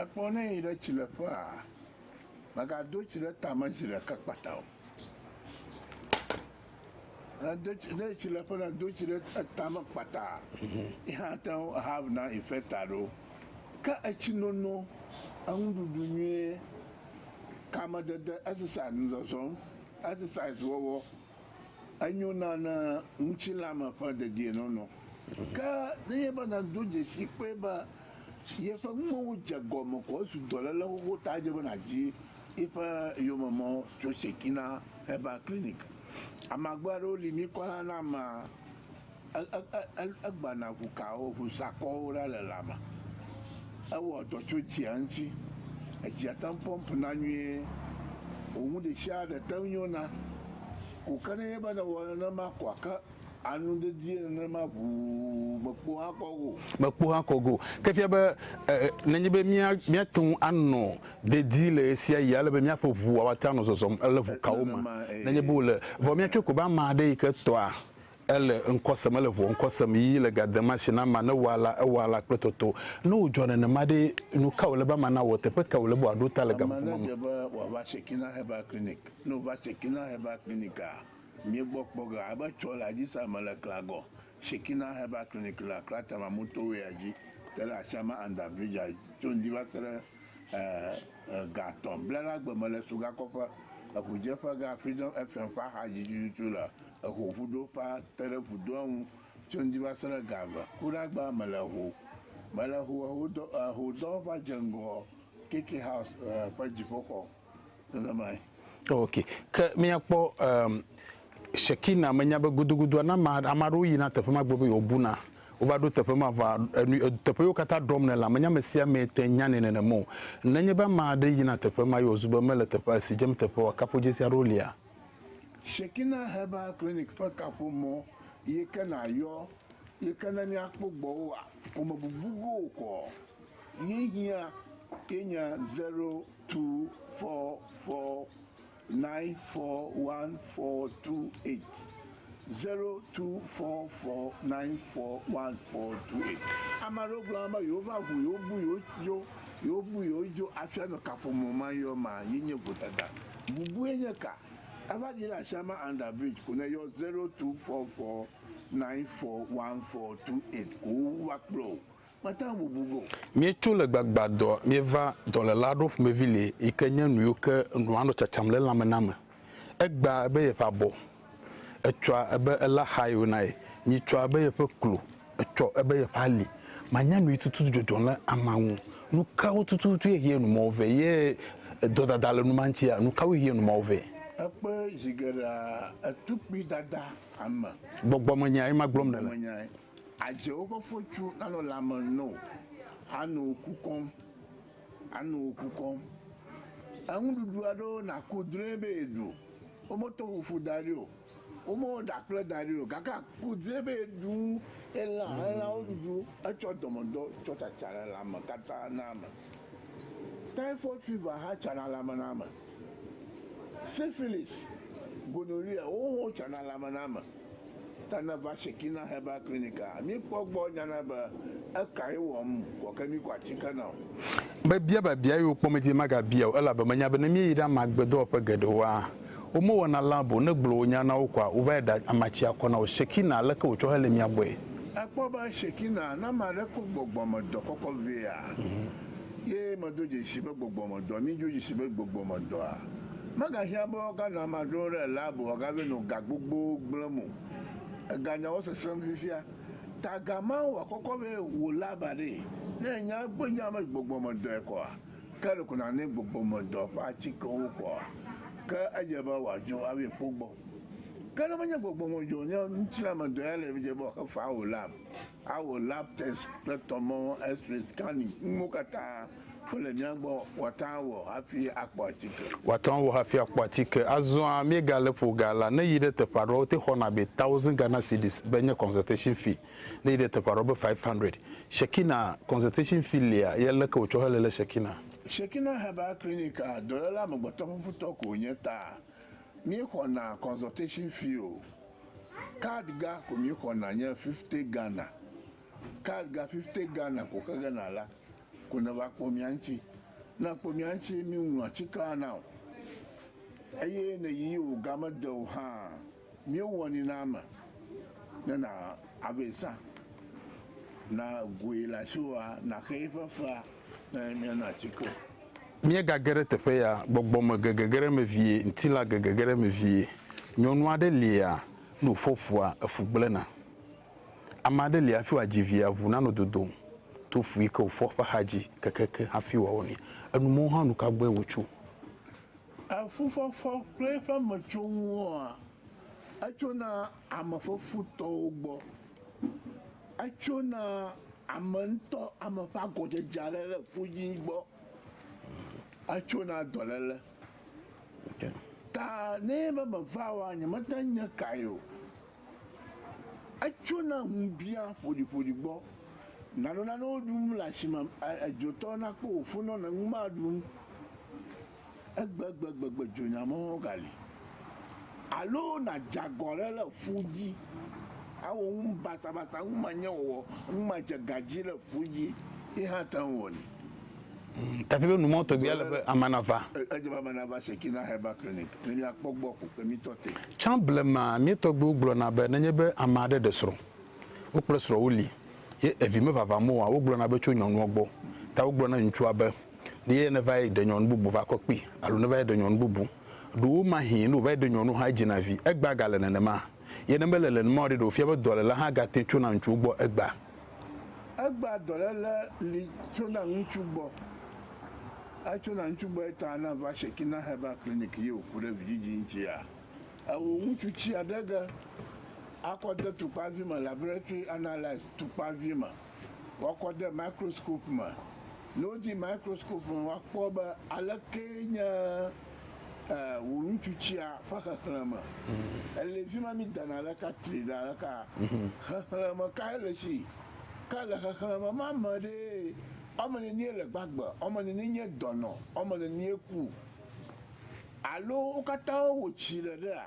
S2: Ekpɔ ne yi ɖe
S4: tsileƒea, mègado tsi ɖe tame zi ɖeka kpata o. Ne do tsi, ne yi tsileƒe na do tsi ɖe etame kpata, yi hã ate ŋu ahav na infecta ɖo. Ke etsi nono, enuɖuɖu nyuie, kamedede, exercise, nuzɔzɔm, exercise wɔwɔ Enyona na ŋutilãme ƒe dedienɔnɔ. Ke nenye be nàdo dzesii kpɔe be yeƒe numewo dze egɔme ko ezu dɔléle xoxo ta, edze be nàdi yiƒe yomemɔ tso Sekina Herbal Clinic. Amagbe aɖewo li mikɔ hã na amea. Egbana ʋu kawo, ʋu sakɔwo ɖa le lã me. Ewɔ dɔ tso dzia ŋuti. Edzia te ŋu pɔmp na nyuie. Wò nu ɖesiaɖe te ŋu nyo na. Ko ke nenye be nèwɔ nenema koa, ke anu dedie nenema ʋuu mèkpo akɔ go o. Mèkpo akɔ go o. Ke
S2: fia be nenye be míate ŋu anɔ dedie le ɣesiaɣi ale be míaƒe ʋua woate ŋu anɔ zɔzɔm le ʋu kawo me nenye be wole. Vɔ míatsɔe ko be ame aɖe yi ke tɔa Ele ŋkɔ sem, ele ŋuɔ ŋkɔ sem yí le ga dem ashi na amea ne ewɔa alea, ewɔa alea kple toto. Ne wòdzɔ nenema ɖe, nu kae wòle be amea nawɔ? Teƒe kae wòle be wòaɖo ta le gaƒoƒo ma me? Ame aɖe dze be wòava
S4: Shekinah Herbal Clinic. Ne wòva Shekinah Herbal Clinic-a, míegbɔ kpɔ ge alebe etsɔ le aji sa me le Klagɔ. Shekinah Herbal Clinic le Accra Tama Motorway-a dzi te ɖe Ashama Under Bridge-a tso ŋdi va se ɖe ga atɔ̃ bla la gbe me le Sugakɔƒe, eŋudzeƒe ga Freedom FM ƒe axadzi tututu le Eho vudo ƒe ate ɖe vudoa ŋu tso ŋdi va se ɖe gagbe. Ku ɖe agbea me le ho me le ho ehodɔ ehodɔ va dze ŋgɔ KK House ƒe dziƒoxɔ nenemae. Ok,
S2: ke míakpɔ em Shekinah menya be gudugudu ne ame ame aɖewo yina teƒe ma gblɔ be yewo buna. Wova ɖo teƒe ma va enu teƒe yewo katã ɖɔm nela menye ame sia ame te nyanɛ nenema o. Nenye be ame aɖe yina teƒe ma ye wòzu be mele teƒe si dzem teƒe oa kaƒodzesi aɖewo lia? Shekinah
S4: Herbal Clinic ƒe kaƒomɔ ye ke nàyɔ ye ke ne míakpɔ gbɔ woa, ƒomebubu go kɔ ye hiã ye nye 0244941428. Zero two four four nine four one four two eight. Ame aɖewo gblɔ na be yewova ŋu, yewobu yewodzo, yewobu yewodzo hafi anɔ kaƒomɔ ma yɔ ma ye nye vodada. Bubue nye ka? Eva ɖi ɖe asiame under bridge ko ne yɔ zero two four four nine four one four two eight ko wova kplɔ wò Míetso le
S2: gbagbadɔ míeva dɔlèla aɖewo ƒomevi li yi ke nye nuyiwo ke nua nɔ tsatsam le elãme na me. Egbea ebe yeƒe abɔ, etsɔa ebe ele axaye wòna ye, nyitsɔa ebe yeƒe klo, etsɔ ebe yeƒe ali. Manya nuyi tututu dzɔdzɔ le amea ŋu. Nukawo tututu ye hie numɔwo vɛ ye dɔdada le numa ŋutia? Nukawoe hie numɔwo vɛ? Ekpe zi
S4: geɖea etukpui dada ame. Gbɔgbɔmenyae
S2: magblɔm nèle. Adze
S4: woƒe fotsu anɔ lãme no ano ku kɔm, ano ku kɔm. Enuɖuɖu aɖewo naku drɔe be yeɖu, wometɔ fufu da ɖi o, womewɔ ɖakple da ɖi o, gake aku drɔe be yeɖu elã, elãwo ɖuɖu etsɔ dɔmedɔ tsɔ tsatsa le lãme katã na ame. Typhoid fever hã tsana le ame na ame. Syphilis, gonorrhea, wowo hã wotsana le ame na ame. Ta ne va Shekinah Herbal Clinic a, míkpɔ gbɔ nyana be ekae wɔm wɔ ke míku atike na o. Mebia
S2: biabia eye wokpɔm edzi be magabia o elabe menya be ne míeyi ɖe ame agbe dɔwɔƒe geɖewoa, womewɔna lab o, ne gblɔ wò nya na wo koa, wova yi ɖa amatsi akɔ na wò. Shekinah, aleke wòtsɔ hele mía gbɔe? Èkpɔ be
S4: Shekinah, ne ame aɖe ko gbɔgbɔmedɔ kɔkɔ vɛa, ye medo dzesi be gbɔgbɔmedɔ, mído dzesi be gbɔgbɔmedɔa? Megahiã be woaganɔ ama dzrom ɖe lab o, woagave nɔ ga gbogbowo gblẽm o. Eganyawo sesẽm fifia. Taga ma wòakɔkɔ be wò lab aɖee. Ne ènya egbɔ nya be gbɔgbɔmedɔe kɔa, ke ɖeko nànɛ gbɔgbɔmedɔ ƒe atikewo kɔa, ke edze be wòadzo ava yi kpɔ gbɔ. Ke ne menye gbɔgbɔmedɔ o, ne ŋutilãmedɔ ya le eme dze be wòaxe faa wò lab, awɔ lab test kple tɔmɔ, X-ray, scanning, nuwo katã. Wole mía gbɔ, woate ŋu awɔ hafi akpɔ atike. Woate ŋu awɔ hafi akpɔ atike. Azɔa, míegale ƒo ga la. Ne èyi ɖe teƒe aɖewo, wote xɔna be thousand Ghana cedis be nye consultation fee. Ne èyi ɖe teƒe aɖewo be five hundred. Shekina, consultation fee lia? Ye leke wòtsɔ hele le Shekina? Shekina Herbal Clinic a, dɔléle amegbetɔfufutɔ ko wònye ta míexɔna consultation fee o. Card ga ko míexɔna nye fifty Ghana. Card ga fifty Ghana ko xegena la. ko neva kpɔ mía ŋuti. Ne ekpɔ mía ŋuti ye míŋlɔ atikea na o eye ne yi o ga mede o hã míewɔnɛ na ame ne na ave zã na goe le asiwòa naxe eƒe fea ne míanɔ atike o.
S2: Míegage ɖe teƒe ya, gbɔgbɔ me gege ge ɖe eme vie, ŋutilã gege ge ɖe eme vie. Nyɔnu aɖe lia, ne wòfɔ fua, efu gblẽna. Ame aɖe li hafi wòadzi via, ŋu nanɔ dodom to fu yi ke wòfɔ ƒe axadzi kekeake hafi wòawɔ nɛ. Enumɔwo hã nu ka gbɔe wòtso? Le fufɔfɔ
S4: kple eƒe metsonuwoa, etsona ame fefutɔwo gbɔ. Etsona ame ŋutɔ, ame ƒe agɔdzedze aɖe le fu dzi gbɔ. Etsona dɔléle. Ta ne enye be meva oa, nyemate ŋu nye kae o. Etsona ŋubiã ƒoɖiƒoɖi gbɔ. Nànɔ nanewo ɖum le asi me. Edzotɔ nakpɔ wò fonɔ ne nu maɖum. Egbegbegbe dzonyamewo gali. Alo nàdze agɔ aɖe le ƒu dzi. Awɔ nu basabasa, numanyawɔwɔ, numadzega dzi le ƒu dzi ye hã ate ŋu awɔnɛ. Mm,
S2: Tafilo nu mɔ tɔgbi ale be ame nava. Edze be ame nava
S4: Shekinah Herbal Clinic ne míakpɔ gbɔ ko kpemitɔ te. Tsã blema mía
S2: tɔgbiwo gblɔna be nenye be ame aɖe ɖe srɔ̃, wo kple srɔ̃ woli, ye evi mevavam oa, wogblɔna be tso nyɔnua gbɔ. Ta wogblɔ na ŋutsua be, Ne ye neva yi ɖe nyɔnu bubu va kɔ kpi, alo neva yi ɖe nyɔnu bubu. Ɖowo mahee ne wòva yi ɖe nyɔnu hã edzina vi. Egbea gale nenema. Ye ne mele nenema o ɖe, ɖe wòfia be dɔléle hã gate tsona ŋutsuwo gbɔ egbea? Egbea
S4: dɔléle li tsona ŋutsu gbɔ. Etsona ŋutsu gbɔ eta ne èva Shekinah Herbal Clinic ye wòku ɖe vidzidzi ŋutia. Ewò ŋutsu tsia ɖe ge akɔ de tukpavi me, laboratory analyse, tukpavi me. woakɔ de microscope me. Ne wodi microscope me woakpɔ be alekee nye eh, wò nutsutsia ƒe xexlẽme. Ele fi ma mídana le ka tri ɖa le ka. Xexlẽme kae le si? Ke le xexlẽme ma me ɖee woame nenie le gbagbe, woame nenie nye dɔnɔ, woame nenie ku. Alo wo katã wowɔ tsi le ɖea?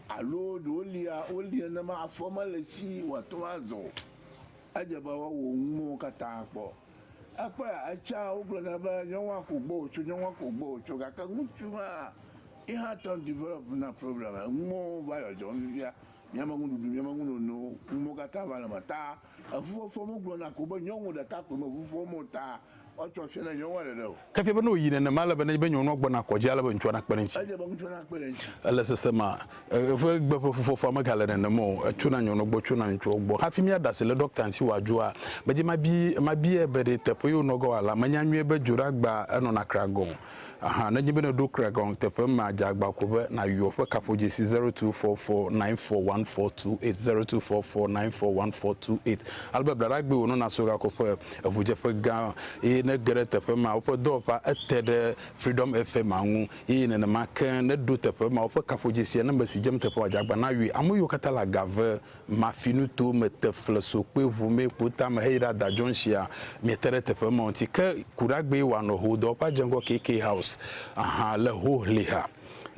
S4: Alo ɖewo lia, wolia nenema afɔ mele si wòate ŋu azɔ o. Edze be woawò nuwo katã kpɔ. Ekpɔea, etsã wogblɔ nɛ be nyɔnua ko gbɔ wòtso, nyɔnua ko gbɔ wòtso, gake ŋutsu ma hã, ye hã tɔ develop na problem, enuwo va yɔ dzɔm fifia, míame nuɖuɖu, míame nunono, nuwo katã va le eme ta eŋu fɔfɔm, wogblɔ na ko be nyɔnu ɖeka koe me ŋu fɔm o ta Ke efia be ne wòyi nenema, ele
S2: be nenye be nyɔnua gbɔna kɔ dzi ale be ŋutsua nakpe ɖe eŋuti.
S4: Ele sesema,
S2: eƒe gbe ƒe fufɔfua megale nenem o, etsona nyɔnua gbɔ, tsona ŋutsuawo gbɔ. Hafi míaɖe asi le ɖɔkta ŋuti wòadzɔa, medze mabiae be ɖe teƒe ye wònɔ ge oa la, menya nyuie be dzoɖeagbea enɔna kra gɔ̃ o. ahan nenye be nèɖo Craig Hong teƒe mea, dze agba ko be nàyɔ ƒe kaƒodzesi zero two four four nine four one four two eight zero two four four nine four one four two eight ale be blaɖagbee wònɔ naso gakɔ ƒe eŋudzeƒe gã eye nege ɖe teƒe mea woƒe dɔwɔƒea ete ɖe Freedom FM-a ŋu eye nenema ke neɖo teƒe mea woƒe kaƒodzesia ne mesi dzem teƒe wòadze agba nayɔe. Ame yiwo katã le aga ve. Mafi nuto me te fle so kpe ʋu mɛ kpo tame heyi ɖa da jɔnshia mɛ te ɖe teƒe ma ŋti ke kuɖagbee wa nɔ ho dɔ ƒe adze ŋgɔ KK house aha le ho hli ha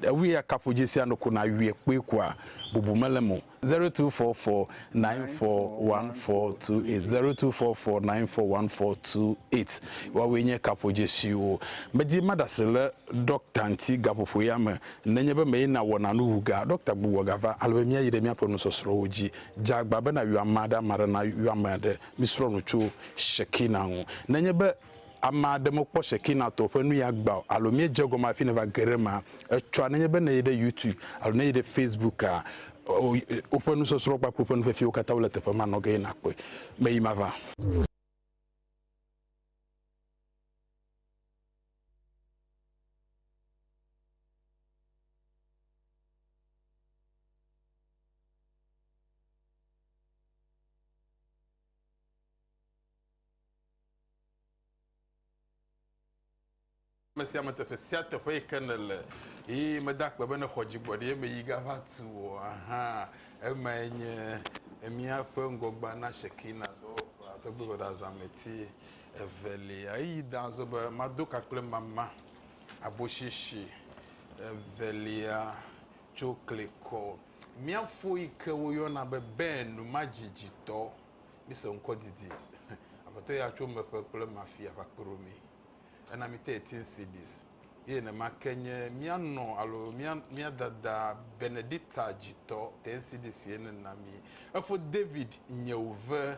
S2: ewui ya kaƒo jesia nɔ ko na wuie kpoe kua bubu mele mo. 0244941428 0244941428 woawoe nye kaƒo jesiwo medi maɖase le ɖɔkta ŋti gaƒoƒo ya me Nenye be mee nàwɔna nu wu gea, ɖɔkta gbugbɔ gava ale be míayi ɖe míaƒe nusɔsrɔ̃wo dzi. Dze agbagba be nàyɔ ame aɖe, ame aɖe nayɔ ame aɖe. Misrɔ̃ nu tso Shekina ŋu. Nenye be ame aɖe mekpɔ Shekina tɔwo ƒe nuya gbã o alo míedze egɔme hafi nèva ge ɖe emea, etsɔa nenye be nèyi ɖe YouTube alo nèyi ɖe Facebooka, woƒe nusɔsrɔ̃ kpakple woƒe nufiafiawo katã wole teƒe ma, nɔ ge eye nàkpɔe. Meyi mava. ame sia ame teƒe sia teƒe yi ke nèle eye meda akpe be nèxɔ dzigbɔɖi eme yi gava tu o hã. Emae nye míaƒe ŋgɔgbe na Shekinah dɔwɔƒea ƒe gbedoɖazãmeti. Evelia, eyi da azɔ be, Mado ka kple mama abosheshe evelia tso klikɔ. Mía fo yi ke woyɔna be Ben numadziditɔ, mise ŋkɔ didi. Aƒetɔ ya tso meƒe kple mafia va kpe ɖo mí. Ena mí thirteen cedis. Eye nema ke nye mía nɔ alo mía mía dada Benedicta dzitɔ ten cedis ye nena mí. Efo David nyewve.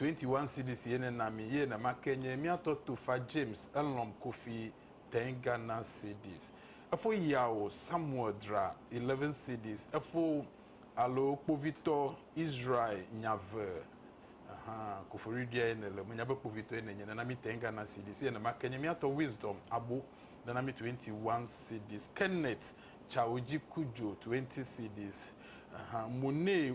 S2: 21 cedis ye nena mi ye nema ke nye mia tɔ tofa James elɔm kofi tɛn Ghana cedis efo yao Samuel dra 11 cedis efo alo kpovitɔ Israel nyave ahan koforidia ye nele menya be kpovitɔ ye nenye nena mi tɛn Ghana cedis ye nema ke nye mia tɔ Wisdom abo nena mi 21 cedis Kenneth Chaoji Kujo 20 cedis ahan Monee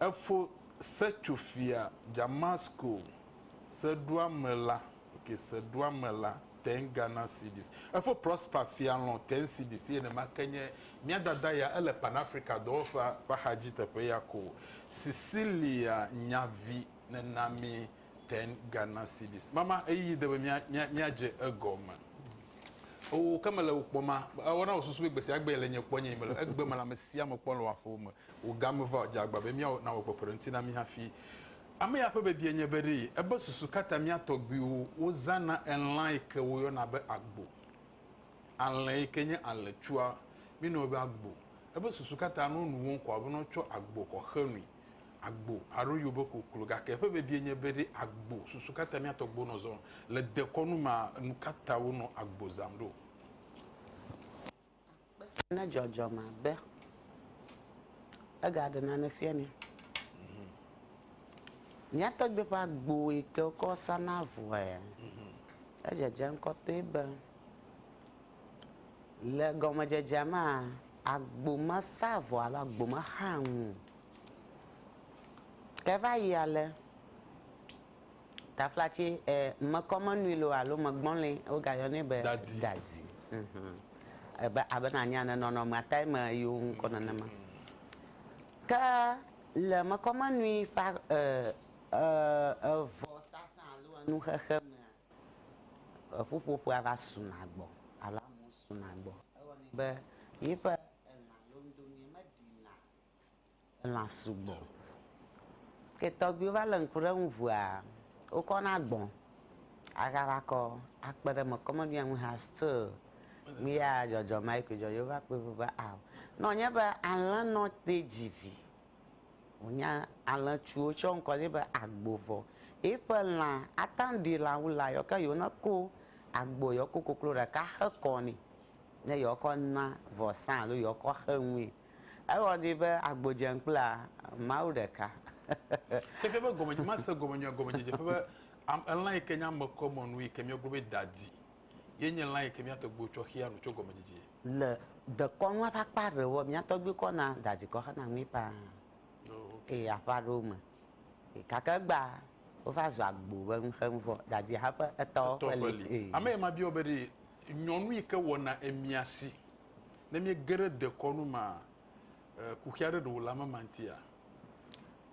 S2: Efo se tso fia Damasko seɖoamela, okay, seɖoamela ten Ghana cedis. Efo Prosper Fialɔ̃ ten cedis eye nenema ke nye mía dada ya, ele Pan Africa dɔwɔƒea ƒe axadzi teƒe ya ko. Cecilia Nyavi nena mi Ten Ghana cedis. Mama ɣeyiɣi de be mía, mía, míadze egɔme. Oo, ke mele wò kpɔma, ewɔna wòsusu be gbesiagbee le nye kpɔ nye yi mele egbe me le ame sia ame kpɔm le wò aƒewo me. Wò ga meva o. Dze agba be míawɔ, nawɔ kpekpeɖeŋuti na mí hafi. Ame ya ƒe biabia nye be ɖee ebe susu ka ta mía tɔgbuiwo wozãna elã yi ke woyɔna be agbo, alẽ yi ke nye alẽtsua, míenɔnɛ be agbo. Ebe susu ka ta ne wonu wo ŋkɔ abe ne wotsɔ agbo kɔ xe nui. agbo alo yobe koklo gake eƒe bebie nye be ɖe agbo susu kata mia tɔgbo nɔ zɔm le dekɔnu ma nu kata wo nɔ agbo zam ɖo
S3: akpe na dzɔdzɔ ma be ega ɖe nane fia ni mhm. mia tɔgbe ƒe agbo yi ke wokɔ sana vɔe mhm. edzedze ŋkɔtɔe be Le gɔmedzedzea mea, agbo mesea avɔ alo agbo mexaa nu o. Ke va yi ale, taflatse, e, mekɔ menui loo alo megbɔlɔe, wogayɔnɛ be Dadi. dadi. Hum. Ebe, abe nanye ane, nɔnɔmea tae me yewo ŋu kɔ nenema. Ke le mekɔ menui ƒe, e, e, evɔ sasa alo enu xexe mea, Eƒuƒoƒea va suna gbɔ alo amewo suna gbɔ. Ewɔ nɛ be míeƒe elã londonɛ meɖina elã sugbɔ o. Ke tɔgbuiwo va le ŋku ɖe eŋu ŋua, wokɔna agbɔ agava kɔ akpe ɖe eme. Kɔmeɖoa ŋu hã still míeya dzɔdzɔmea koe dzɔ. Yewo va kpɔe ƒo be ao ne wònye be alẽnɔ tee dzi vi. Wonya alẽtsuwo tsɔ ŋkɔ nɛ be agbo vɔ. Eƒe lã ata ŋu ɖi lã wu lã yɔ ke yewo nako agbo yewo ko koklo ɖeka xe kɔ nɛ ne yewo kɔ na vɔsa alo yewo kɔ xe nue. Ewɔ nɛ be agbo dze ŋu kple Mawu ɖeka. Xexea
S2: ƒe gɔme, nyemase gɔme nyuie gɔmedzedze ƒe be elã yi ke nye ame kɔmɔ nu yi ke mía gblɔ be dadi Ye nye lã yi ke mía tɔgbuiwo tsɔ xea nu tso gɔmedzedzie. Le
S3: dekɔnua ƒe akpa aɖewɔa, mía tɔgbuiwo kɔ na dadikɔ xena nui ƒãa eye aƒe aɖewo me e. Gake egbea, wova zu agbo be nu xem vɔ. Dadia hã ƒe etɔ ƒe li e. Ame ye ma biɔ be ɖe
S2: nyɔnu yi ke wɔna emia si ne miege ɖe dekɔnu mea e, kuxi aɖe ɖe wòle ame ma ŋutia?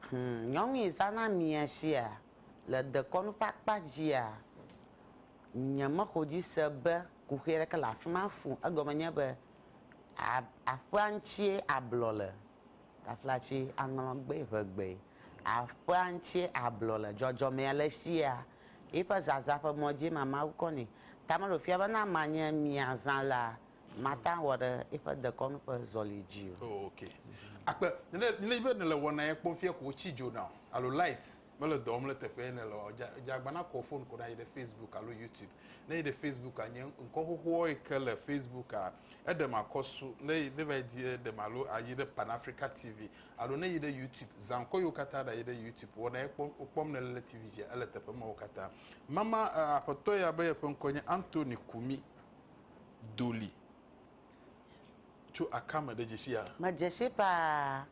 S2: Hum,
S3: nyɔnu yi zãna amia sia le dekɔnu ƒe akpa dzia, Nyemexɔdzi se be kuxi aɖeke le afi ma fũ. Egɔme nye be aƒea ŋutie ablɔ le, taflatsi aŋlɔ gbee ʋe gbee. Aƒea ŋutie ablɔ le. Dzɔdzɔmea le sia, eƒe zazã ƒe mɔ dzie ma Mawu kɔ nɛ. Ta mele wòfia be ne amea nye miazã la, mate ŋu awɔ ɖe eƒe dekɔnu ƒe zɔli dzi o. Oh, okay.
S2: Akpe, ne, ne nyi be nèle wɔnae kpɔm fia ko wotsi dzo na wò, alo light mele dɔ wɔm le teƒe ye nèle o, dza dza agbana kɔ wò fon ko ɖa yi ɖe Facebook alo YouTube. Ne yi ɖe Facebooka, nye ŋkɔ xoxoa yi ke le Facebooka, eɖem akɔsu. Ne yi ne va yi di eɖem alo ayi ɖe Pan Africa TV alo ne yi ɖe YouTube, zã ŋkɔ yiwo katã ɖa yi ɖe YouTube. Wɔna ye kpɔm wokpɔm nèle le TV dzia, ele teƒe mawo katã. Mama e, aƒetɔ ya be yeƒe ŋkɔ nye Anthony Kumi Dolly. Tso akame ɖe dzesi ya? Medze si paa.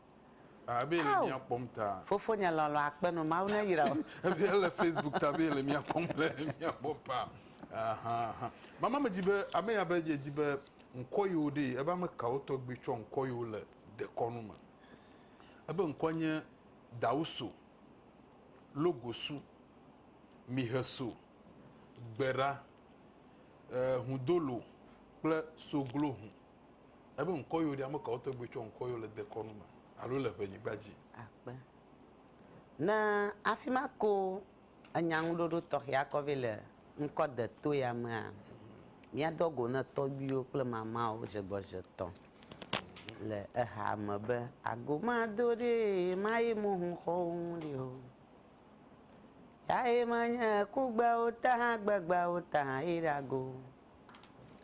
S3: Abe
S2: ele mía kpɔm ta. Fofonye lɔlɔ akpenɔ
S3: Mawu ne yra wò. Ebe ele Facebook
S2: ta be ele mía kpɔm le mía gbɔ pa. Ahaha. Mama me dzi be ame ya be ye dzi be ŋkɔ yi wo ɖe ebe ame kawo tɔgbi tsɔ ŋkɔ yi wo le dekɔnu me. Ebe ŋkɔ nye Dawuso, Logosu, Miheso, Gbera, eh, Hudolo kple Soglohu. Ebe ŋkɔyɔ ɖi, amekawo tɔgbe tsɔ ŋkɔyɔ le dekɔnu me alo le ʋenyigba dzi? Akpe.
S3: Ne afima ko enya ŋuɖoɖo tɔxɛa kɔ vɛ le ŋkɔ de to ya mea, mía dɔ go ne tɔgbiwo kple mamawo zegbɔze tɔ le eha me be ago ma do ɖi ye ma ye mo hun xɔ wo ŋu ɖi o. Ya ye ma nye kugbeawo ta hã gbegbeawo ta hã ye ɖe ago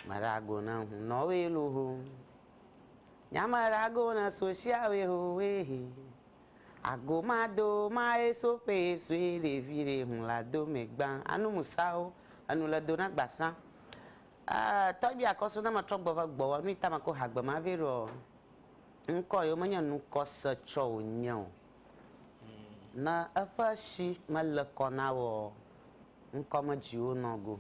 S3: Marago na hun nɔ we lo ho. Nya marago na sosia we ho we he. Ago ma do ma e so pe e so e le vi re hun la do me gba. Anu musao. Anu le do na gbasa. Ah, tɔ bi akɔ so na ma trɔ gbɔ va gbɔ wa nu ita ma ko ha gbe ma ve ro. Nkɔ yo me nya nu kɔ se tsɔ o nya o. Na eƒe shi me le kɔ na wo. Nkɔ me dzi wo nɔ go.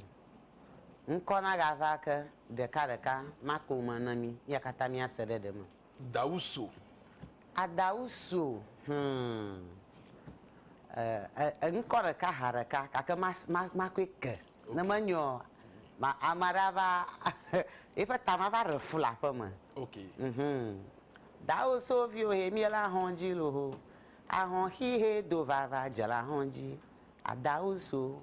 S3: Ŋkɔ nagava ke ɖekaɖeka makpɔ me na mí. Mía katã míase ɖe ɖe me. Dawuso.
S2: A
S3: Dawuso, hum e, e, ŋkɔ ɖeka ha ɖeka gake ma, ma, makɔe ke. Ne menyeɔ, ma, ame aɖe ava, eƒe ta ma va ɖe fu le aƒe me. Ok. Hum. Dawuso viwo he mí le ahɔn dzi loho. Ahɔn xi he do vava dze le ahɔn dzi. A Dawuso,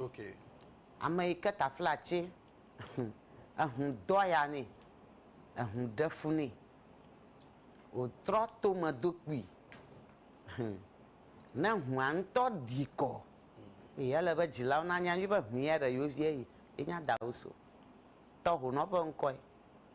S3: Okay.
S2: Ame yi ke
S3: taflatse, ehũ do aya nɛ, ehũ ɖe fu nɛ, wòtrɔ to me do kpui. Ne ehũa ŋutɔ ɖi kɔ, ee, ele be dzilawo nanya nyuie be ehũ ya ɖe yewo vie ye, ye nye Adawusu. Tɔhonɔ ƒe ŋkɔe.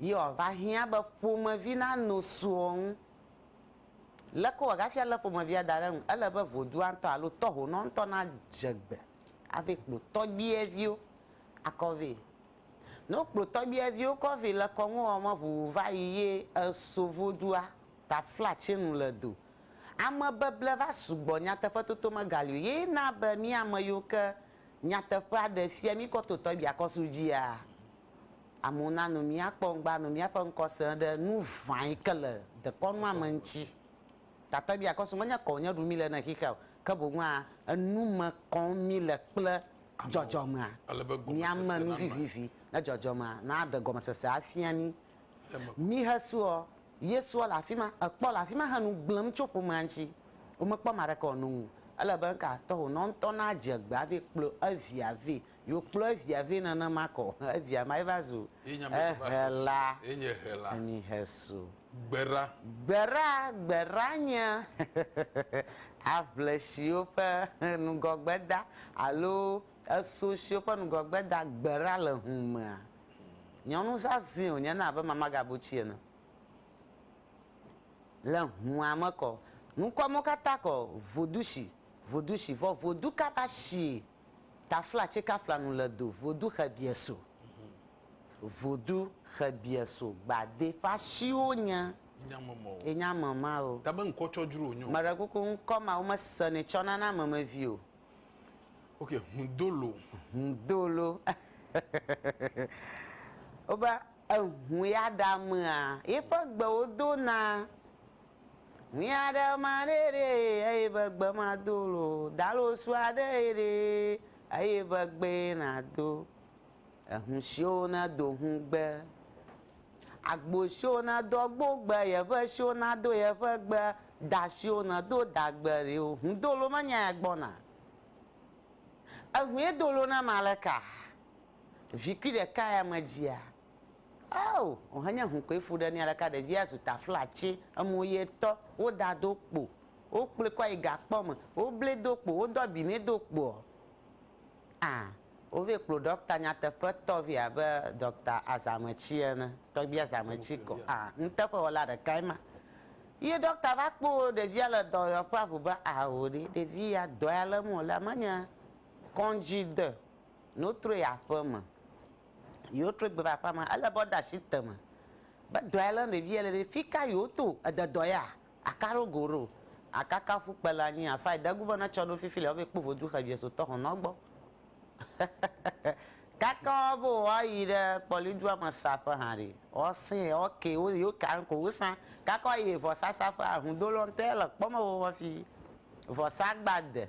S3: Yɔ va hiã be ƒomevi na no suɔ ŋu. Leke wɔ gafi ale ƒomevia da ɖe ŋu? Ele be vodua ŋutɔ alo tɔhonɔ ŋutɔ na dze gbe hafi kplɔ tɔgbiɛviwo akɔ vɛ. Ne wo kplɔ tɔgbiɛviwo kɔ vɛ le kɔnu wɔ me ʋuʋu va yi ye eso vodua ta fla tse nu le do. Ame beble va sugbɔ nyateƒe toto me gali o ye na be mía me yiwo ke nyateƒea ɖe fia mí kɔ to tɔgbia kɔ su dzia? Amewo na nu mía kpɔ ŋgba nu mía ƒe ŋkɔ se ɖe nu ʋã yi ke le dekɔnu ma me ŋuti. Gake mía kɔ su menye kɔ wònye ɖu mí le ne xixea o, ke boŋ hã enu me kɔm mí le kple dzɔdzɔmea. Mía me nu vivivi ne dzɔdzɔmea na aɖe gɔmesese afia mí. Mí he suɔ, Yesua le afi ma, ekpɔ le afi ma he nu gblẽm tso ƒomea ŋuti. Wo me kpɔ ame aɖeke wòano nu o. Ele be ŋka tɔxɛ wònɔ ŋutɔ na dze gbe hafi kplɔ evia vɛ Yewo kplɔ evia vɛ nane ma kɔ evia ma ye va zu ehela. Enye hela. Enyi hesu. Gbera. Gbera, gbera nye aʋle siwo ƒe nugɔgbeda alo eso siwo ƒe nugɔgbeda gbera le ŋu mea. Nyɔnu zazɛ̃ wo nye na abe mamagabuti ene. Le ŋua me kɔ, nukɔ mo kata kɔ vodushi, vodushi vɔ vodu kaba shi Tafla tsikafla nu le do Vodu Xebieso. Vodu Xebieso gbadé ƒe ashiwo nye enye ame ma o. Tabe ŋkɔ tsɔ dzro nyɔ.
S2: Meɖe kuku ŋkɔ ma
S3: wome sene tsɔ nana ame me vi o. Ok,
S2: Hudolo. Hudolo.
S3: Wobe ehu ya ɖa mea, ye ƒe gbewo do na. Miaɖe ma ɖe ɖe eye be gbe ma do lo dalo sua ɖe eye ɖe eye be gbe na do ehu siwo na do hu gbe agbo siwo na do agbo gbe ye ƒe siwo na do ye ƒe gbe da siwo na do da gbe ɖe o hu do lo me nya ya gbɔ na ehu ye do lo na ma le ka vi kui ɖe ka ya me dzia Ao! Ohe nye hu koe fu ɖe nia ɖeka ɖevia zu taflatsi emo ye tɔ wo da do kpo wo kplɔe kɔ yi gakpɔ me wo ble do kpo wo dɔ abi ne do kpoɔ a wo vɛ kplo dɔkta nyateƒe tɔ vɛ abe dɔkta azametsi ene tɔgbi azametsi kɔ a nuteƒe wɔla ɖeka ema ye dɔkta va kpo ɖevia le dɔ yɔ ƒe aʋu be ao ɖe ɖevi ya dɔe ale me wo lea menye kɔndzi de no troe aƒeme Yewo trɔe gbe va aƒea me. Ele be woɖe asi te me be dɔa lé ɖevia le ɖe. Fika yewo to? Ede dɔ ya? Aka ɖo go ɖo? Akaka ƒu kpe le anyi afae de gu be ne tsɔ ɖo fifi le wobe kpo vodu xe vie so tɔxɔnɔ gbɔ. Kaka wo be woa yi ɖe kpɔli dua me sa ƒe hã ɖi. Wo sɛ wo ke wo yewo ka ŋko wo sa. Kaka wo yi vɔsa sa ƒe ahudo lɔ ŋtɔ ya le kpɔ me vɔvɔ fi vɔsa gba de.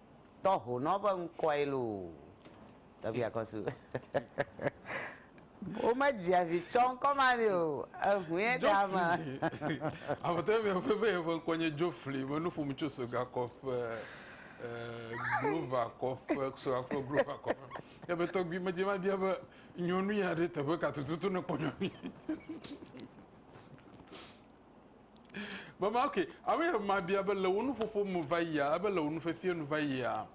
S3: Tɔ honɔ be ŋkɔe loo. Tɔgbi akɔsu. Wo me dzia vi tsɔ ŋkɔ ma ni o. Ehuie ɖe ama. Afɔtɔ
S2: mi ƒe be eƒe ŋkɔ nye Jofli. Me nu ƒom tso soga kɔƒe. Glova kɔƒe, soga kple glova kɔƒe. Ya be tɔgbi me dze ma bia be nyɔnu ya ɖe teƒe ka tututu ne kpɔ nyɔnu. Mama, ok, abe yɛ mabia be le wo nuƒoƒo me va yia, ebe le wo nufefie nu va yia,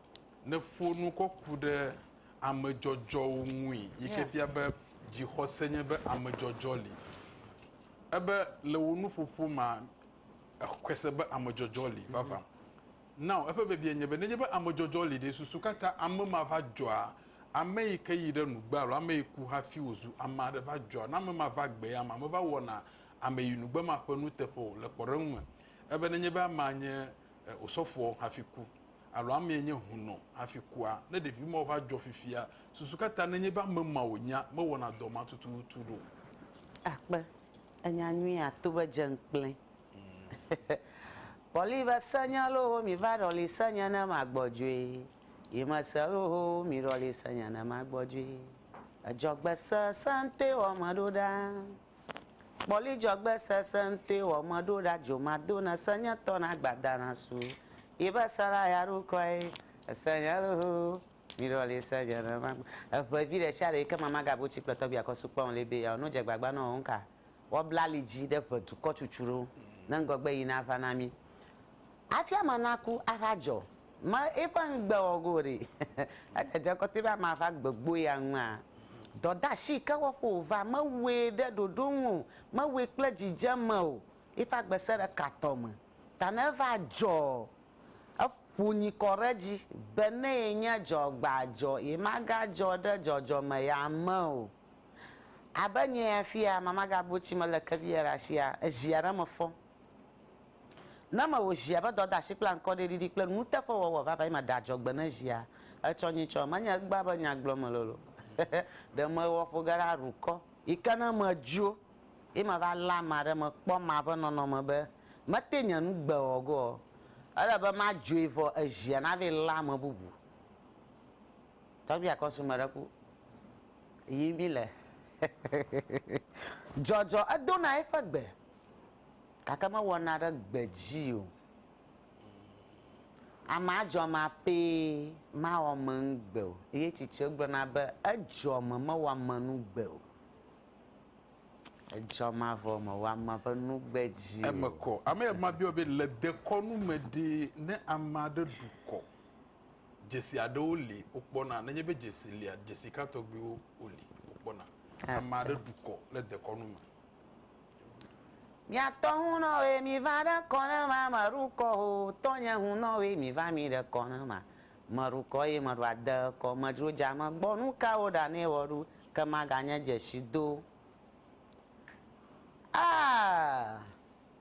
S2: nèƒo nu kɔ ku ɖe amedzɔdzɔwo ŋui yi ke Yeah. fia be dzixɔse nye be amedzɔdzɔ li. Ebe le wo nuƒoƒo mea, exɔe se be amedzɔdzɔ li vavã. Now, eƒe biabia nye be, nenye be amedzɔdzɔ li ɖe, susu ka ta ame ma va dzɔa? Ame yi ke yi ɖe nugbe alo ame yi ku hafi wòzu ame aɖe va dzɔa? Ne ame ma va gbea, ame ma va wɔna ame yi nugbe ma ƒe nuteƒe o le kpɔɖeŋu me ebe nenye be amea nye osɔfoɔ hafi ku alo amee nye hunɔ hafi kua, ne ɖevi mawo va dzɔ fifia, susu ka ta nenye be ame ma wònya mewɔna dɔ ma tututu ɖo? Akpe
S3: enya nyuie ato be dze ŋkplɛ. Kpɔli be se nya loo mi va ɖɔli se nye ne ma gbɔdzoe yi me se loo mi ɖɔli se nye ne ma gbɔdzoe. Edzɔgbe se sẽŋtɔe wɔ me ɖo ɖaa. Kpɔli dzɔgbe sesẽŋtɔe wɔ meɖo ɖa dzomato ne se nye tɔ na gbada na su yi be se la ya ɖo kɔe ese nye ɖo mi ɖɔ li se nye ne ma eʋe vi ɖe sia ɖe yi ke mama ga bo tsi kple tɔbi akɔ su kpɔn li be ya no dze gbagba nɔ nka wɔ bla li dzi ɖe ʋe dukɔ tsutsu ɖo ne ŋgɔgbe yi na va na mi afia ma na ku ava dzɔ Ma eƒe ŋugbe wɔ go ɖi. Edzedze kɔte be amea va gbegbo ya ŋua? Dɔdeasi yi ke wɔƒe wòva, mewɔe ɖe ɖoɖo nu o, mewɔe kple dzidzeme o. Eƒe agbe sẽ ɖe ka tɔ me. Ta ne eva dzɔ, eƒo nyi kɔ ɖe edzi be ne yenye dzɔgbadzɔ, yemagadzɔ ɖe dzɔdzɔme ya me o. Abe nye ya fia, Mama Gabuchi melé ke vi ya ɖe asi ya, ezi aɖe me fɔ. Ne mewò zia be dɔdeasi kple aŋkɔɖiɖiɖi kple nuteƒewɔwɔ vavãe ma ɖe adzɔgbe ne zia, etsɔ nyui tsɔ. Menye egbea be nya gblɔm mele loo. Ɖe mewɔ ƒo ge ɖe aɖukɔ. Yi ke ne medzo ye meva lé ame aɖe mekpɔ ma ƒe nɔnɔme be mete nye nu gbe ɔ go ɔ, ele be madzoe vɔ ezia nave lé ame bubu. Tɔgbui akɔsu meɖe ku yi mi le. Dzɔdzɔ edo na eƒe gbe. Gake mewɔ na ɖe gbedzi o. Ame adzɔ ma pee mawɔ menu gbe o. Eye tsitsi gblɔ na be edzɔ me mewɔ menu gbe o. Edzɔ mavɔ me wɔ ame ƒe nu gbedzi o. Eme kɔ. Ame ya ma
S2: biɔ be le dekɔnu me ɖe ne ame aɖe ɖu kɔ, dzesi aɖewo li wokpɔ na. Nenye be dzesi lia, dzesi ka tɔgbiwo woli wokpɔ na. Ame aɖe ɖu kɔ le dekɔnu me. Miatɔ
S3: hunɔwoe mi va ɖe kɔ ne ma me ɖu kɔ o tɔnye hunɔwoe mi va mi ɖe kɔ ne ma me ɖu kɔ eye meɖu ade kɔ me dzro dza me gbɔ nukawo ɖa ne wɔ ɖu ke ma ga nye dzesi do ah.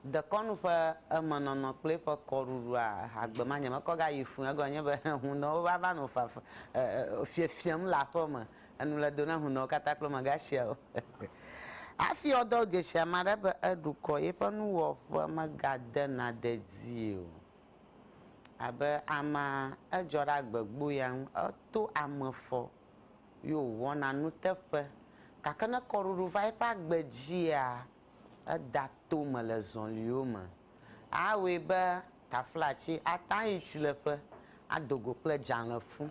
S3: Dekɔnu ƒe emenɔnɔ kple eƒe kɔɖuɖua ehagbe ma nye mekɔ gayi fũu. Egɔme nye be hunɔwo va va nɔ fafa fiefiem le aƒe me. Enu le do na hunɔwo katã kple mega siawo. Hafi woadɔ wo dzesi ame aɖe be eɖukɔ, yeƒe nuwɔƒe megadena dedie o. Abe amea, edzɔ ɖe agbegbo ya ŋu. Eto ame fɔ ye wòwɔna nuteƒe. Gake ne kɔɖuɖu va eƒe agbe dzia, Eda to me le zɔliwo me. Awɔe be taflatsi ate ŋu ayi tsileƒe ado go kple dzalẽfu.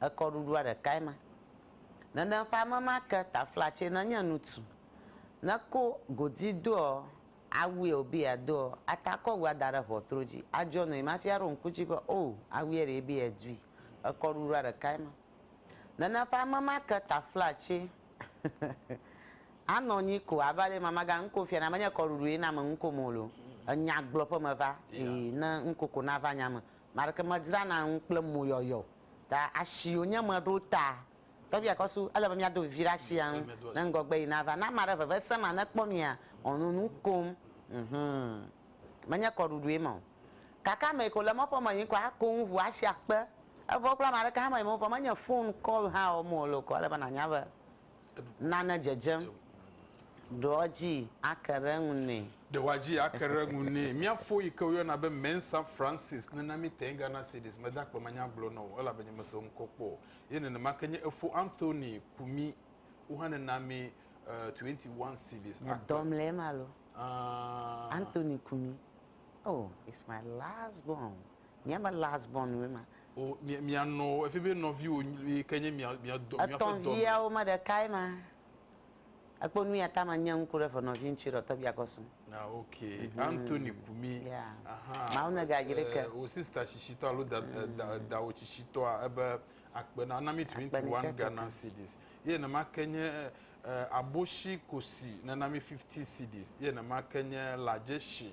S3: Ekɔɖuɖua ɖekae ma. Nene ƒe ame ma ke taflatsi nenye ŋutsu. Ne ko godi doɔ awu ye wòbe yeadoɔ, ate akɔ awua da ɖe ʋɔtru dzi, adzɔ nui me hafi aɖo ŋku edzi be, Oo, awuɛ ɖee be yedui. Ekɔɖuɖua ɖekae ma. Nana ƒe ame ma ke taflatsi anɔ anyi ko abe ale mama ga nuko fia na menye kɔɖuɖu ye na me nuko mo lo. Enya gblɔ ƒe me va eye ne nuko ko na va nya me. Maɖeke me dzra na nu kple mo yɔyɔ. Ta asi yo nye me ɖo ta. Tɔbia kɔ su ele be mia do vivi ɖe asi anu ne ŋgɔgbe yi na va. Na ma ɖe veve se ma ne kpɔ mia ɔnu nukom. Menye kɔɖuɖu ye ma o. Gake ame yi ke wòle mɔƒe me yim kɔ ako nu ŋu asi akpe. Evɔ wokpla ame aɖeke hã meyim o vɔ menye fon kɔl hã wɔm wòle o. Ke ele be nànya be nane dzedzem. Ɖe woadzi ake ɖe eŋu nɛ. Ɖe woadzi ake ɖe
S2: eŋu nɛ. Mía fo yi ke woyɔna be Mensa Francis nena mí te Ghana Cedis. Mede akpe manya gblɔ na wò o elabe nyemese wo ŋkɔ kpɔ o. Ye nenema ke nye efo Anthony Kumi, wo hã nena mí twenty one cedis akpe. Medɔ mle ema lo.
S3: Ãa. Anthony Kumi. Oh, it's my last born. Nye me last born woe ma. O, mia, mia
S2: nɔ, efi be nɔviwo yi ke nye mia, mia dɔ, mia ƒe dɔ. Etɔnviawo me
S3: ɖekae ma. Ekpɔ nu ya ta ma nye ŋku ɖe fenɔvi ŋutsu ɖe tɔbia kɔ sum. Na ah, ok. Mm -hmm.
S2: Anthony Kumi. Yeah. Aha. Mawu ne
S3: ga jire ke. Wo sister tsitsitɔ
S2: alo da, mm. da, dawo tsitsitɔa ebe akpe na na mi 21 Ghana cedis. Ye ne ma ke nye E, aboshi kosi nana mi fifty cedis ye nema ke nye lajeshi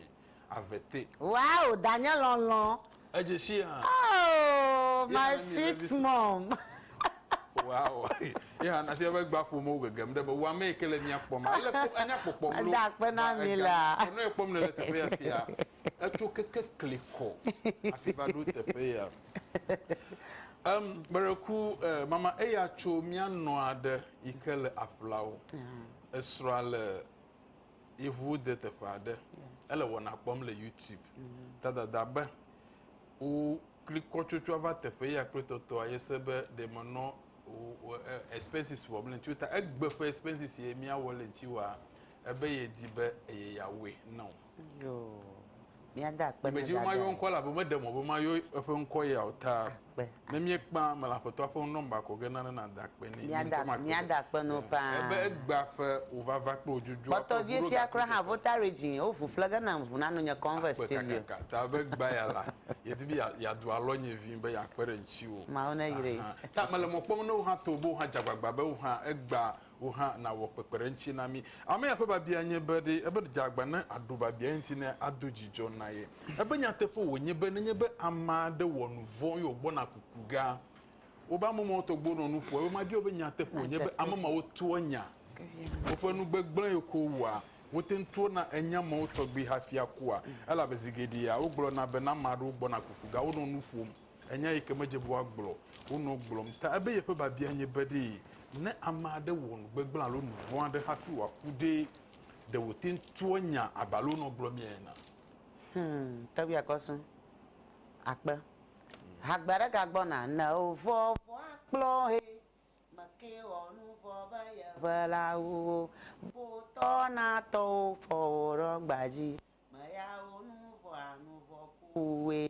S2: avete. Wow, danye
S3: lɔlɔ. Ejeshi hã. Oh, Ye my nana mi sweet vevisi.
S2: mom.
S3: Wow.
S2: Ye hã nasi eƒe gba ƒome wo gegem ɖe be wo ame yi ke le mia kpɔm. Ele kpɔ enya kpɔkpɔ mlo. Eda akpe na mi la.
S3: Ɔnɔe kpɔm nele teƒe
S2: ya fia. Etso keke klikɔ hafi va ɖo teƒe ya. Em, gbeɖeku eh, mama eya tso mía nɔ aɖe yi ke le aƒlawo. Esrɔ̃a le yevuwo de teƒe aɖe. Ele wɔna kpɔm le YouTube. Ta dada be wo klikɔ tsotsoa va teƒe ya kple tɔtɔa yese be ɖe menɔ wo- wo- eh, expenses wɔm le ŋuti wo ta egbe ƒe expenses ye míawɔ le ŋuti wɔa ebe yedi be eye yeawɔe na wo.
S3: Dzimedziwo mayɔ ŋkɔa elabe meɖe
S2: mɔ be mayɔ eƒe ŋkɔ ya o ta. Ne míekpea ame le Aƒetɔa ƒe nɔmba kɔ ge nane nàda akpe nɛ. Míada akpe
S3: na wo faa. Ebe egbea ƒe
S2: wòvava kple wò dzodzo. Kpɔtɔ vie fia kura hã
S3: vota regin wo ʋu ƒle ge na ŋu nanu nye converse studio. Akpe kakaka ta be egbea ya
S2: la yedi be yadu alɔ nye vi be yakpe ɖe ŋtsiwo. Mawu ne yire.
S3: Ta mele mɔ kpɔm
S2: ne wo hã to be wo hã dze agbagba be wo hã egbea wò hã nàwɔ kpekpeɖeŋutsi na mí. Ame ya ƒe biabia nye be, Ɖe ebe dze agba ne aɖu biabiae ŋuti ne ado dzidzɔ na ye? Ebe nyateƒe wònye be nenye be ame aɖe wɔ nu vɔ̃ eye wògbɔna kuku gea, wobe ame mawo tɔgbuiwo nɔ nu ƒom. Ebe mabia wò be, Nyateƒe wònye be ame mawo toa nya woƒe nu gbegblẽe ko wua? Wote ŋu trɔna enya mawo tɔgbi hafi akua? Elabe zi geɖea wogblɔna be ne ame aɖewo gbɔna kuku gea, wonɔ nu ƒom. Enya yi ke medze be woagblɔ o nɔ gblɔm ta ebe yeƒe biabia nye be ɖe ne ame aɖe wɔ nu gbegblẽ alo nu vɔ̃ aɖe hafi wòaku ɖe, ɖe wòte ŋu toa nya abe ale wonɔ gblɔmee enea? Hum,
S3: tɔgbi akɔsu akpe hagbe aɖe gagbɔna ne wo vɔ vɔ akplɔ he me ke wɔ nu vɔ be yeʋe la wu wo bo tɔ na tɔwo fɔ wo ɖɔ gbadzi me ya wo nu vɔ a nu vɔ ku wu we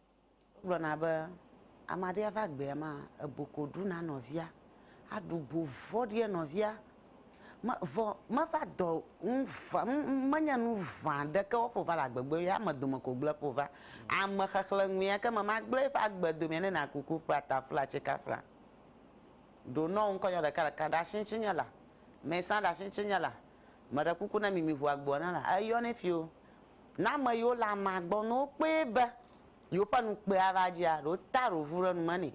S3: Wogblɔna be ame aɖe ava gbea ma ebu ko ɖu na nɔvia, aɖu bu vɔ̃ɖi enɔvia me vɔ meva dɔ ŋu va menye nu vã ɖeke woƒo va le agbegbe ye ame dome ko gblẽ ƒo va ame xexlẽ ŋu ya ke me magblẽ eƒe agbe domea ne na kuku ƒe atafla tsikafla ɖo nɔ ŋkɔ nyɔ ɖeka ɖeka ɖasi ŋtsi nye la mɛ sã ɖasi ŋtsi nye la meɖe kuku ne mimi ʋu agboa na la eyɔ nɛ ƒio. Ne ame yiwo le amea gbɔ, ne wokpɔe be yewoƒe nu kpɔe ava dzia, ɖe wotea ɖe wovu ɖe nu me nɛ?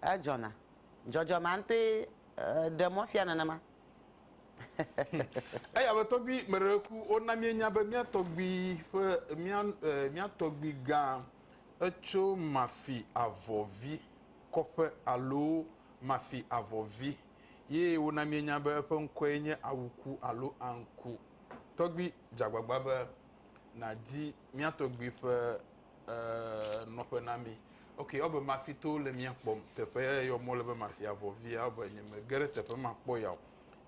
S3: Edzɔna. Dzɔdzɔ ma ŋutɔe ɖe mɔ fia nenema.
S2: Eya be tɔgbui me ɖe ku wona míenya be mía tɔgbui ƒe mía mía tɔgbui gã etso Mafi Avɔvi kɔƒe alo Mafi Avɔvi ye wona míenya be eƒe ŋkɔe nye Awuku alo Anku. Tɔgbui, dze agbagba be nàdi mía tɔgbui ƒe eh, nɔƒe na mí. Ok, ebe mafi to le mía kpɔm. Teƒe ya yɔ mɔ le be mafi avɔ via, ebe nye mege ɖe teƒe makpɔ ya o.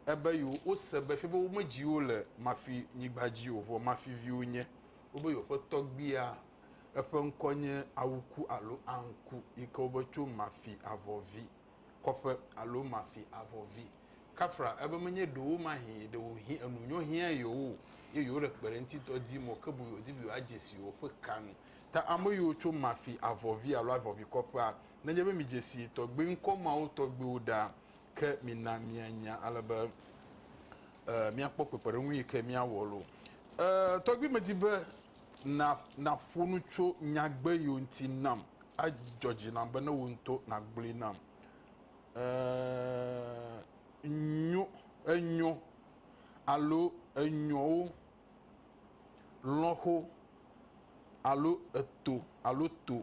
S2: Ebe yo wose be fie be womedzi wo le mafi nyigba dzi o, vɔ mafi viwo nye. Wobe yo ƒe tɔgbuia eƒe ŋkɔ nye Awuku alo Anku, yi ke wobe tso mafi avɔ vi. kɔƒe alo mafi avɔ vi. Kafra ebe menye ɖewomahĩ ɖewohĩ enu nyɔ hiã yewo o, ye yewole kpeɖeŋutidɔ di mɔ ke boŋ yewodi be yewoadze si yewoƒe ka nu. Ta ame yiwo tso mafi avɔ vi alo avɔ vi kɔƒea, nenye be midze si tɔgbi ŋkɔ mawo tɔgbiwo ɖa, ke mina mianya ale be míakpɔ kpekpeɖeŋu yi ke míawɔ lo. E, tɔgbi medi be na, naƒo nu tso nyagbe yiwo ŋuti nam Adzɔ dzi nam be ne wò ŋutɔ nàgblɔe nam. Ee, nyo, enyo alo enyowo, lɔ̃xo alo eto alo to.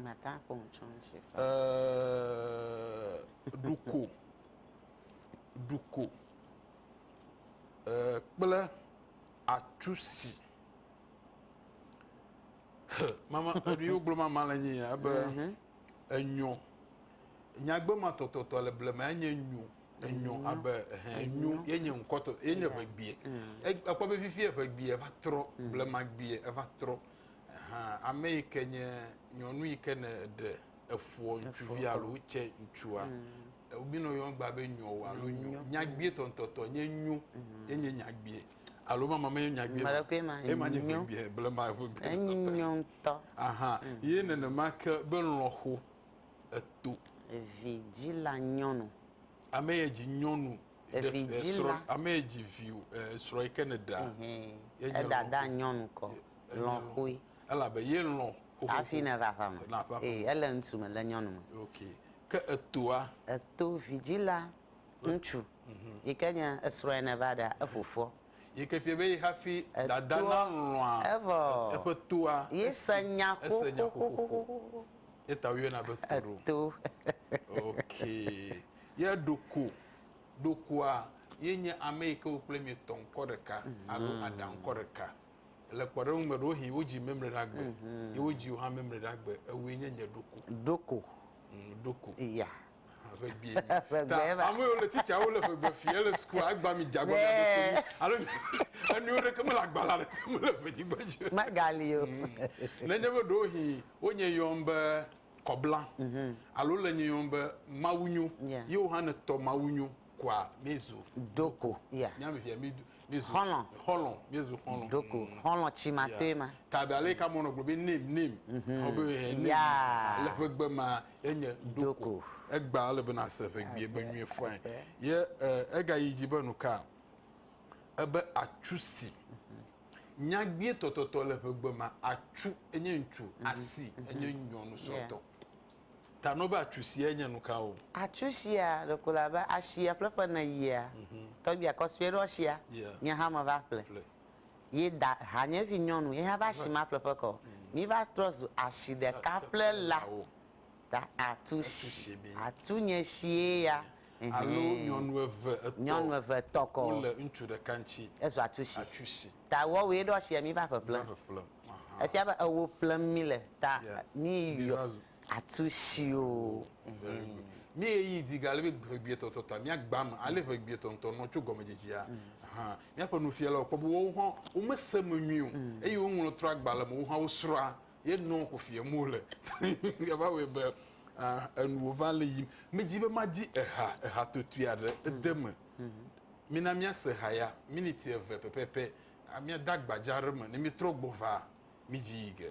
S2: Mata akpɔ
S3: ŋutsɔ ŋutsɔ. Ee, ɖuko,
S2: ɖuko, ee, kple atsusi. mama enu yiwo gblɔ mama le nye ya be mhm. enyo nyagbe ma tɔtɔtɔ le blema enye nyo enyo mhm. abe enyo ye nye ŋkɔtɔ ye nye ƒe gbie ekpɔ be fifi eƒe gbie eva trɔ blema gbie eva trɔ ame yi ke nye nyɔnu yi ke ne ɖe efuɔ ŋutsuvi alo tse ŋutsua wobinɔ yɔn gba be nyo alo nyo nyagbie tɔntɔtɔ nye nyo ye nye nyagbie alo mama me nya gbe mɔɖekui ma ema nye gbe bia ble ma ƒe gbe enyo ŋutɔ
S3: aha mm. ye
S2: nenema ke be lɔxo eto evi
S3: dzila nyɔnu ame ye dzi
S2: nyɔnu evi dzila
S3: ame ye dzi vi
S2: srɔ̃ yi ke ne da edada
S3: nyɔnu kɔ lɔxoe elabe ye
S2: lɔ hafi ne va ƒame
S3: ee ele ŋutsu me le nyɔnu me okay ke
S2: etoa eto vi dzila
S3: ŋutsu yi ke nye esrɔ̃e neva ɖa efofoɔ. Yi ke ƒie be ye
S2: hafi dada nalɔ̃a eƒe
S3: toa, esi
S2: nya
S3: xoxoxoxo.
S2: Ye ta woyɔna be to. Ok. Ye ɖoko, ɖokoa ye nye ame yi ke wo kple mie tɔ ŋkɔ ɖeka alo aɖa ŋkɔ ɖeka. Le kpɔɖeŋu me ɖewohĩ wodzi memle ɖa gbe ye wodzi wò hã memle ɖa gbe, ewòe nye nye ɖoko. Ɖoko. Ɖoko.
S3: Ya. Ʋegbee mi.
S2: Ʋegbee Ta va. ame yiwo le tsitsa wo le ʋegbe fi ele sukua agba mi dze agba mi aɖo so mi. Alo mi enuwo ɖeke mele agbalẽ aɖeke me le ʋenyigba dzi o. Megali o.
S3: Nenye
S2: be ɖewohĩ wonye yɔm be kɔbla alo le nye yɔm be mawunyo Yeah. ye wo hã ne tɔ mawunyo. kua mizu doko
S3: ya miami via mi mizu
S2: xɔlɔ xɔlɔ mizu xɔlɔ doko mm. xɔlɔ tsi
S3: ma toe ma tabe ale ka mɔnɔ
S2: gblɔ be nim nim mhm. ɔbe he nim ale ƒe gbe ma enye doko egba ale be na se ƒe gbie be nyuie fain ye eh, ega yi dzi be nu ka ebe atsu si mhm. nyagbie tɔtɔtɔ le ƒe gbe ma atsu enye ŋutsu mhm. asi enye nyɔnu sɔtɔ. Yeah. Ta no be atsu siae nye nukawo? Atsu sia ɖeko
S3: le abe ashia ƒleƒe ene yia tɔgbia kɔsue ɖo ashia nye hã me va ƒle ye da hanye vi nyɔnu ye hã va ashi ma ƒleƒe kɔ mi va trɔ zu ashi ɖeka ƒle la ta atu shi atu nye shie ya alo nyɔnu
S2: eve etɔ nyɔnu eve etɔ kɔ wole ŋutsu
S3: ɖeka
S2: ŋtsi ezu atu shi.
S3: Ta woawoe ɖo asia mi va ƒeƒlem. Va ƒeƒlem. Aha. Efia be ewo ƒlem mi le ta yeah. mi yɔ atu sio. Oh, very good. Mm. Mi
S2: eyi di gale be ʋegbietɔ tɔ ta mi agba me ale ʋegbietɔ ŋutɔ nɔ tso gɔmedzedzia. Mm. Aha. Miaƒe nufialawo kpɔ be wowo hã womese me nyuie o. Mm. Eye woŋlɔ trɔ agba le me wowo hã wosrɔa Ye nɔɔ xo fiɛ mo le. Ye va wɔɛ be enuwo va le yim. Me dzi be ma di eha, eha totui aɖe ede me. Mi na mia se ha ya miniti eve pɛpɛpɛ. A mia da gbadza ɖe me ne mi trɔ gbɔ va mi dzi yi ge.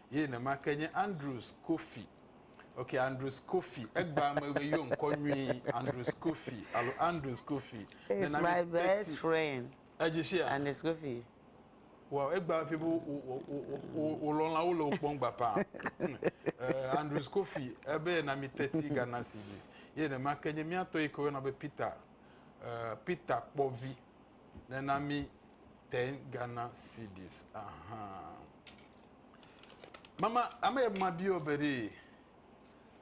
S2: Ye nema ke nye Andrews Kofi. Ok, Andrews Kofi. Egbea megbe yɔ ŋkɔ nyui Andrews Kofi alo Andrews Kofi. He's my
S3: best friend. Edzi shia? Andrews
S2: Kofi.
S3: Wow,
S2: egbea ƒe be wo lɔlawo le wo kpɔm gba pa. Eh, Andrews Kofi, ebe yena mi teti Ghana cedis. Ye nema ke nye miatɔ yi ke woyɔna be Peter, eh, Peter Kpɔvi. Nena mi ten Ghana cedis. Ahaa. Mama, ame ya ma biɔ be ɖe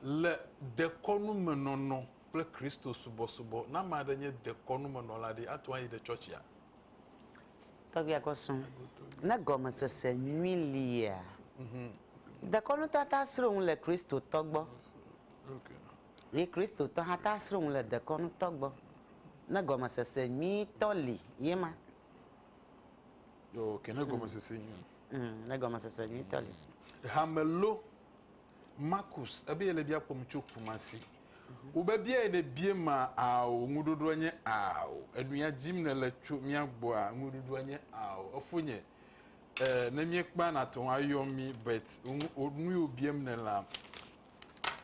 S2: le dekɔnu me nɔnɔ kple Kristo subɔsubɔ, ne ame aɖe nye dekɔnu me nɔla ɖe, ate ŋu ayi ɖe tsɔtsia?
S3: Tɔgbia Kɔsu, ne gɔmesese nyui lia, dekɔnu tɔ ata sro ŋu le Kristo tɔ gbɔ.
S2: Ye Kristo
S3: tɔ hã ta sro ŋu le dekɔnu tɔ gbɔ. Ne gɔmesese nyui tɔ li ye ma.
S2: Yo, ke ne gɔmesese mm. nyuie. Mm, ne gɔmesese
S3: nyuitɔ li. Mm. Hame lo
S2: Marcus ebe yele bia kpɔm tso Kumasi. Mhm. Wobe bia yi ne bie ma ao ŋuɖoɖoa nye ao. Enuya dzim ne le tso mía gbɔa ŋuɖoɖoa nye ao. Efo nye eh, ne mie kpa na tɔn ayɔ mi but nu yo biem ne la.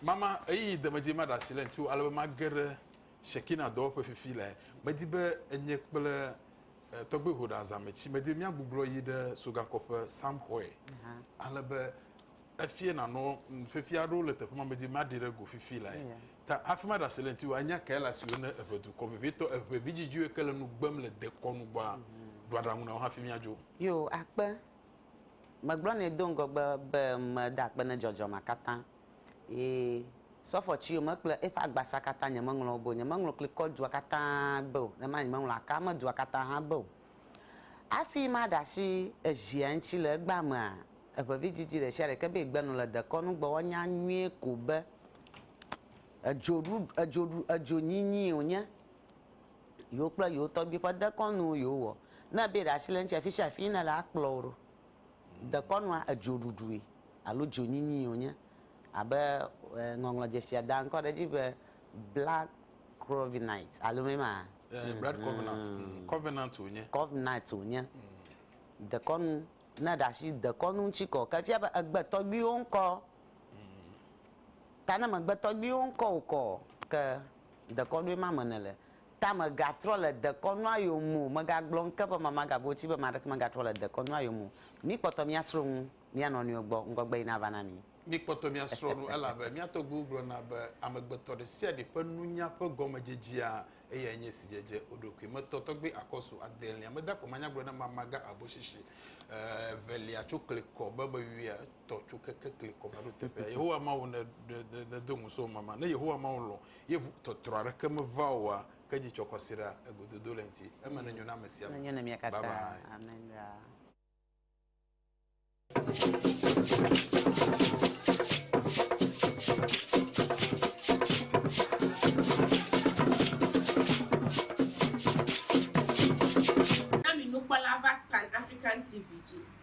S2: Mama eyi demeje ma ɖasi le ŋuti alebe ma geɖe Shekinah dɔwɔƒe fifi lae. Medi be enye kple Tɔgbe Hoda Zametsi medi be míagbublɔ yi ɖe Sogankɔƒe Sam xɔe ale be efie nanɔ nufiafia aɖewo le teƒe ma medi be maɖi ɖe go fifi lae. Ta hafi maɖe asi le ŋuti o, anya kae le asiwò ne èʋe dukɔ vevitɔ, èʋe vidzidziwoe ke le nu gbem le dekɔnu gbɔa? Ɖo aɖaŋu na wo hafi míadzo. Yo, akpe.
S3: Megblɔ nɛ do ŋgɔgbe be meda akpe na dzɔdzɔmea katã. Ye sɔfɔ tsi yome kple eƒe agbasa katã nyemeŋlɔ wo be o. Nyemeŋlɔ klikɔ dua katã be o, nenema nyemeŋlɔ Akame dua katã hã be o. Hafi maɖe asi Ezia ŋuti le egbea mea, eʋe vidzidzi ɖe sia ɖe ke be yegbe nu le dekɔnu gbe woanya nyuie ko be edzoɖuɖu, edzoɖu, edzonyinyii wònye yewo kple yewo tɔgbui ƒe dekɔnuwo yewowɔ. Ne ebe yeɖe asi le eŋuti afisiafi yi nele akplɔ wo ɖo. Dekɔnua edzoɖuɖui alo dzonyinyii wònye, abe ŋɔŋlɔ dzesia daa ŋkɔ ɖe edzi be blood covenant alo mee ma? Ɛɛ, blood covenant,
S2: covenant wònye. Covenant wònye. Dekɔnu, ne èɖe asi dekɔnu ŋuti kɔ, ke efia be ègbe tɔgbuiwo ŋkɔ. Ta ne mègbe tɔgbuiwo ŋkɔ o kɔ, ke dekɔnue ma me nèle. Ta mègatrɔ le dekɔnu ayome o. Mègagblɔ ŋke ƒe mama gagoti be ame aɖeke megatrɔ le dekɔnu ayome o. Míkpɔtɔ míasrɔ̃ nu mía nɔnɔewo gbɔ, ŋgɔgbeɣi nava na mí. Míkpɔtɔ míasrɔ̃ nu, elabe mía tɔgbuiwo gblɔna be, Amegbetɔ ɖe sia ɖe ƒe nunya ƒe gɔmedzedzea, eyae nye si dzedze wo ɖokui. Metɔ tɔgbi akɔsu adelia. Meda akpe manyagblɔ na mama gã habɔshishi evelia tso klikɔ be meyɔe tɔ tso keke klikɔ va ɖo teƒea. Yehowa Mawu, nedo ŋusẽwò mama. Ne Yehowa Mawu lɔ̃, Yevu tɔtrɔ aɖeke meva oa, ke dzi tsɔ kɔsiɖa, egododo le eŋti. Eme nenyo na ame sia Nenyo na mia ame. katã. Babayi.
S3: Amen ɖaa.
S5: Na mi nukpɔla va pan African TV dzi.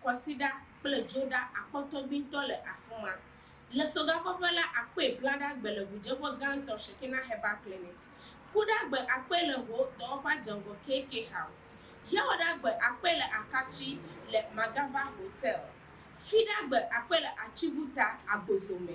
S5: Kwasiɖa kple dzoɖa akpɔtɔgbuitɔ le afima. Le sogakɔƒe la, akpɔe blaɖa gbe le ʋudzeƒe gãtɔ Shekinah Herbal Clinic. Kuɖagbe akpɔe le ho dɔwɔƒea dze ŋgɔ KK House. Yawɔɖagbe akpɔe le Akatsi le Magava Hotel. Fiɖagbe akpɔe le Atsibuta, Agbozo me.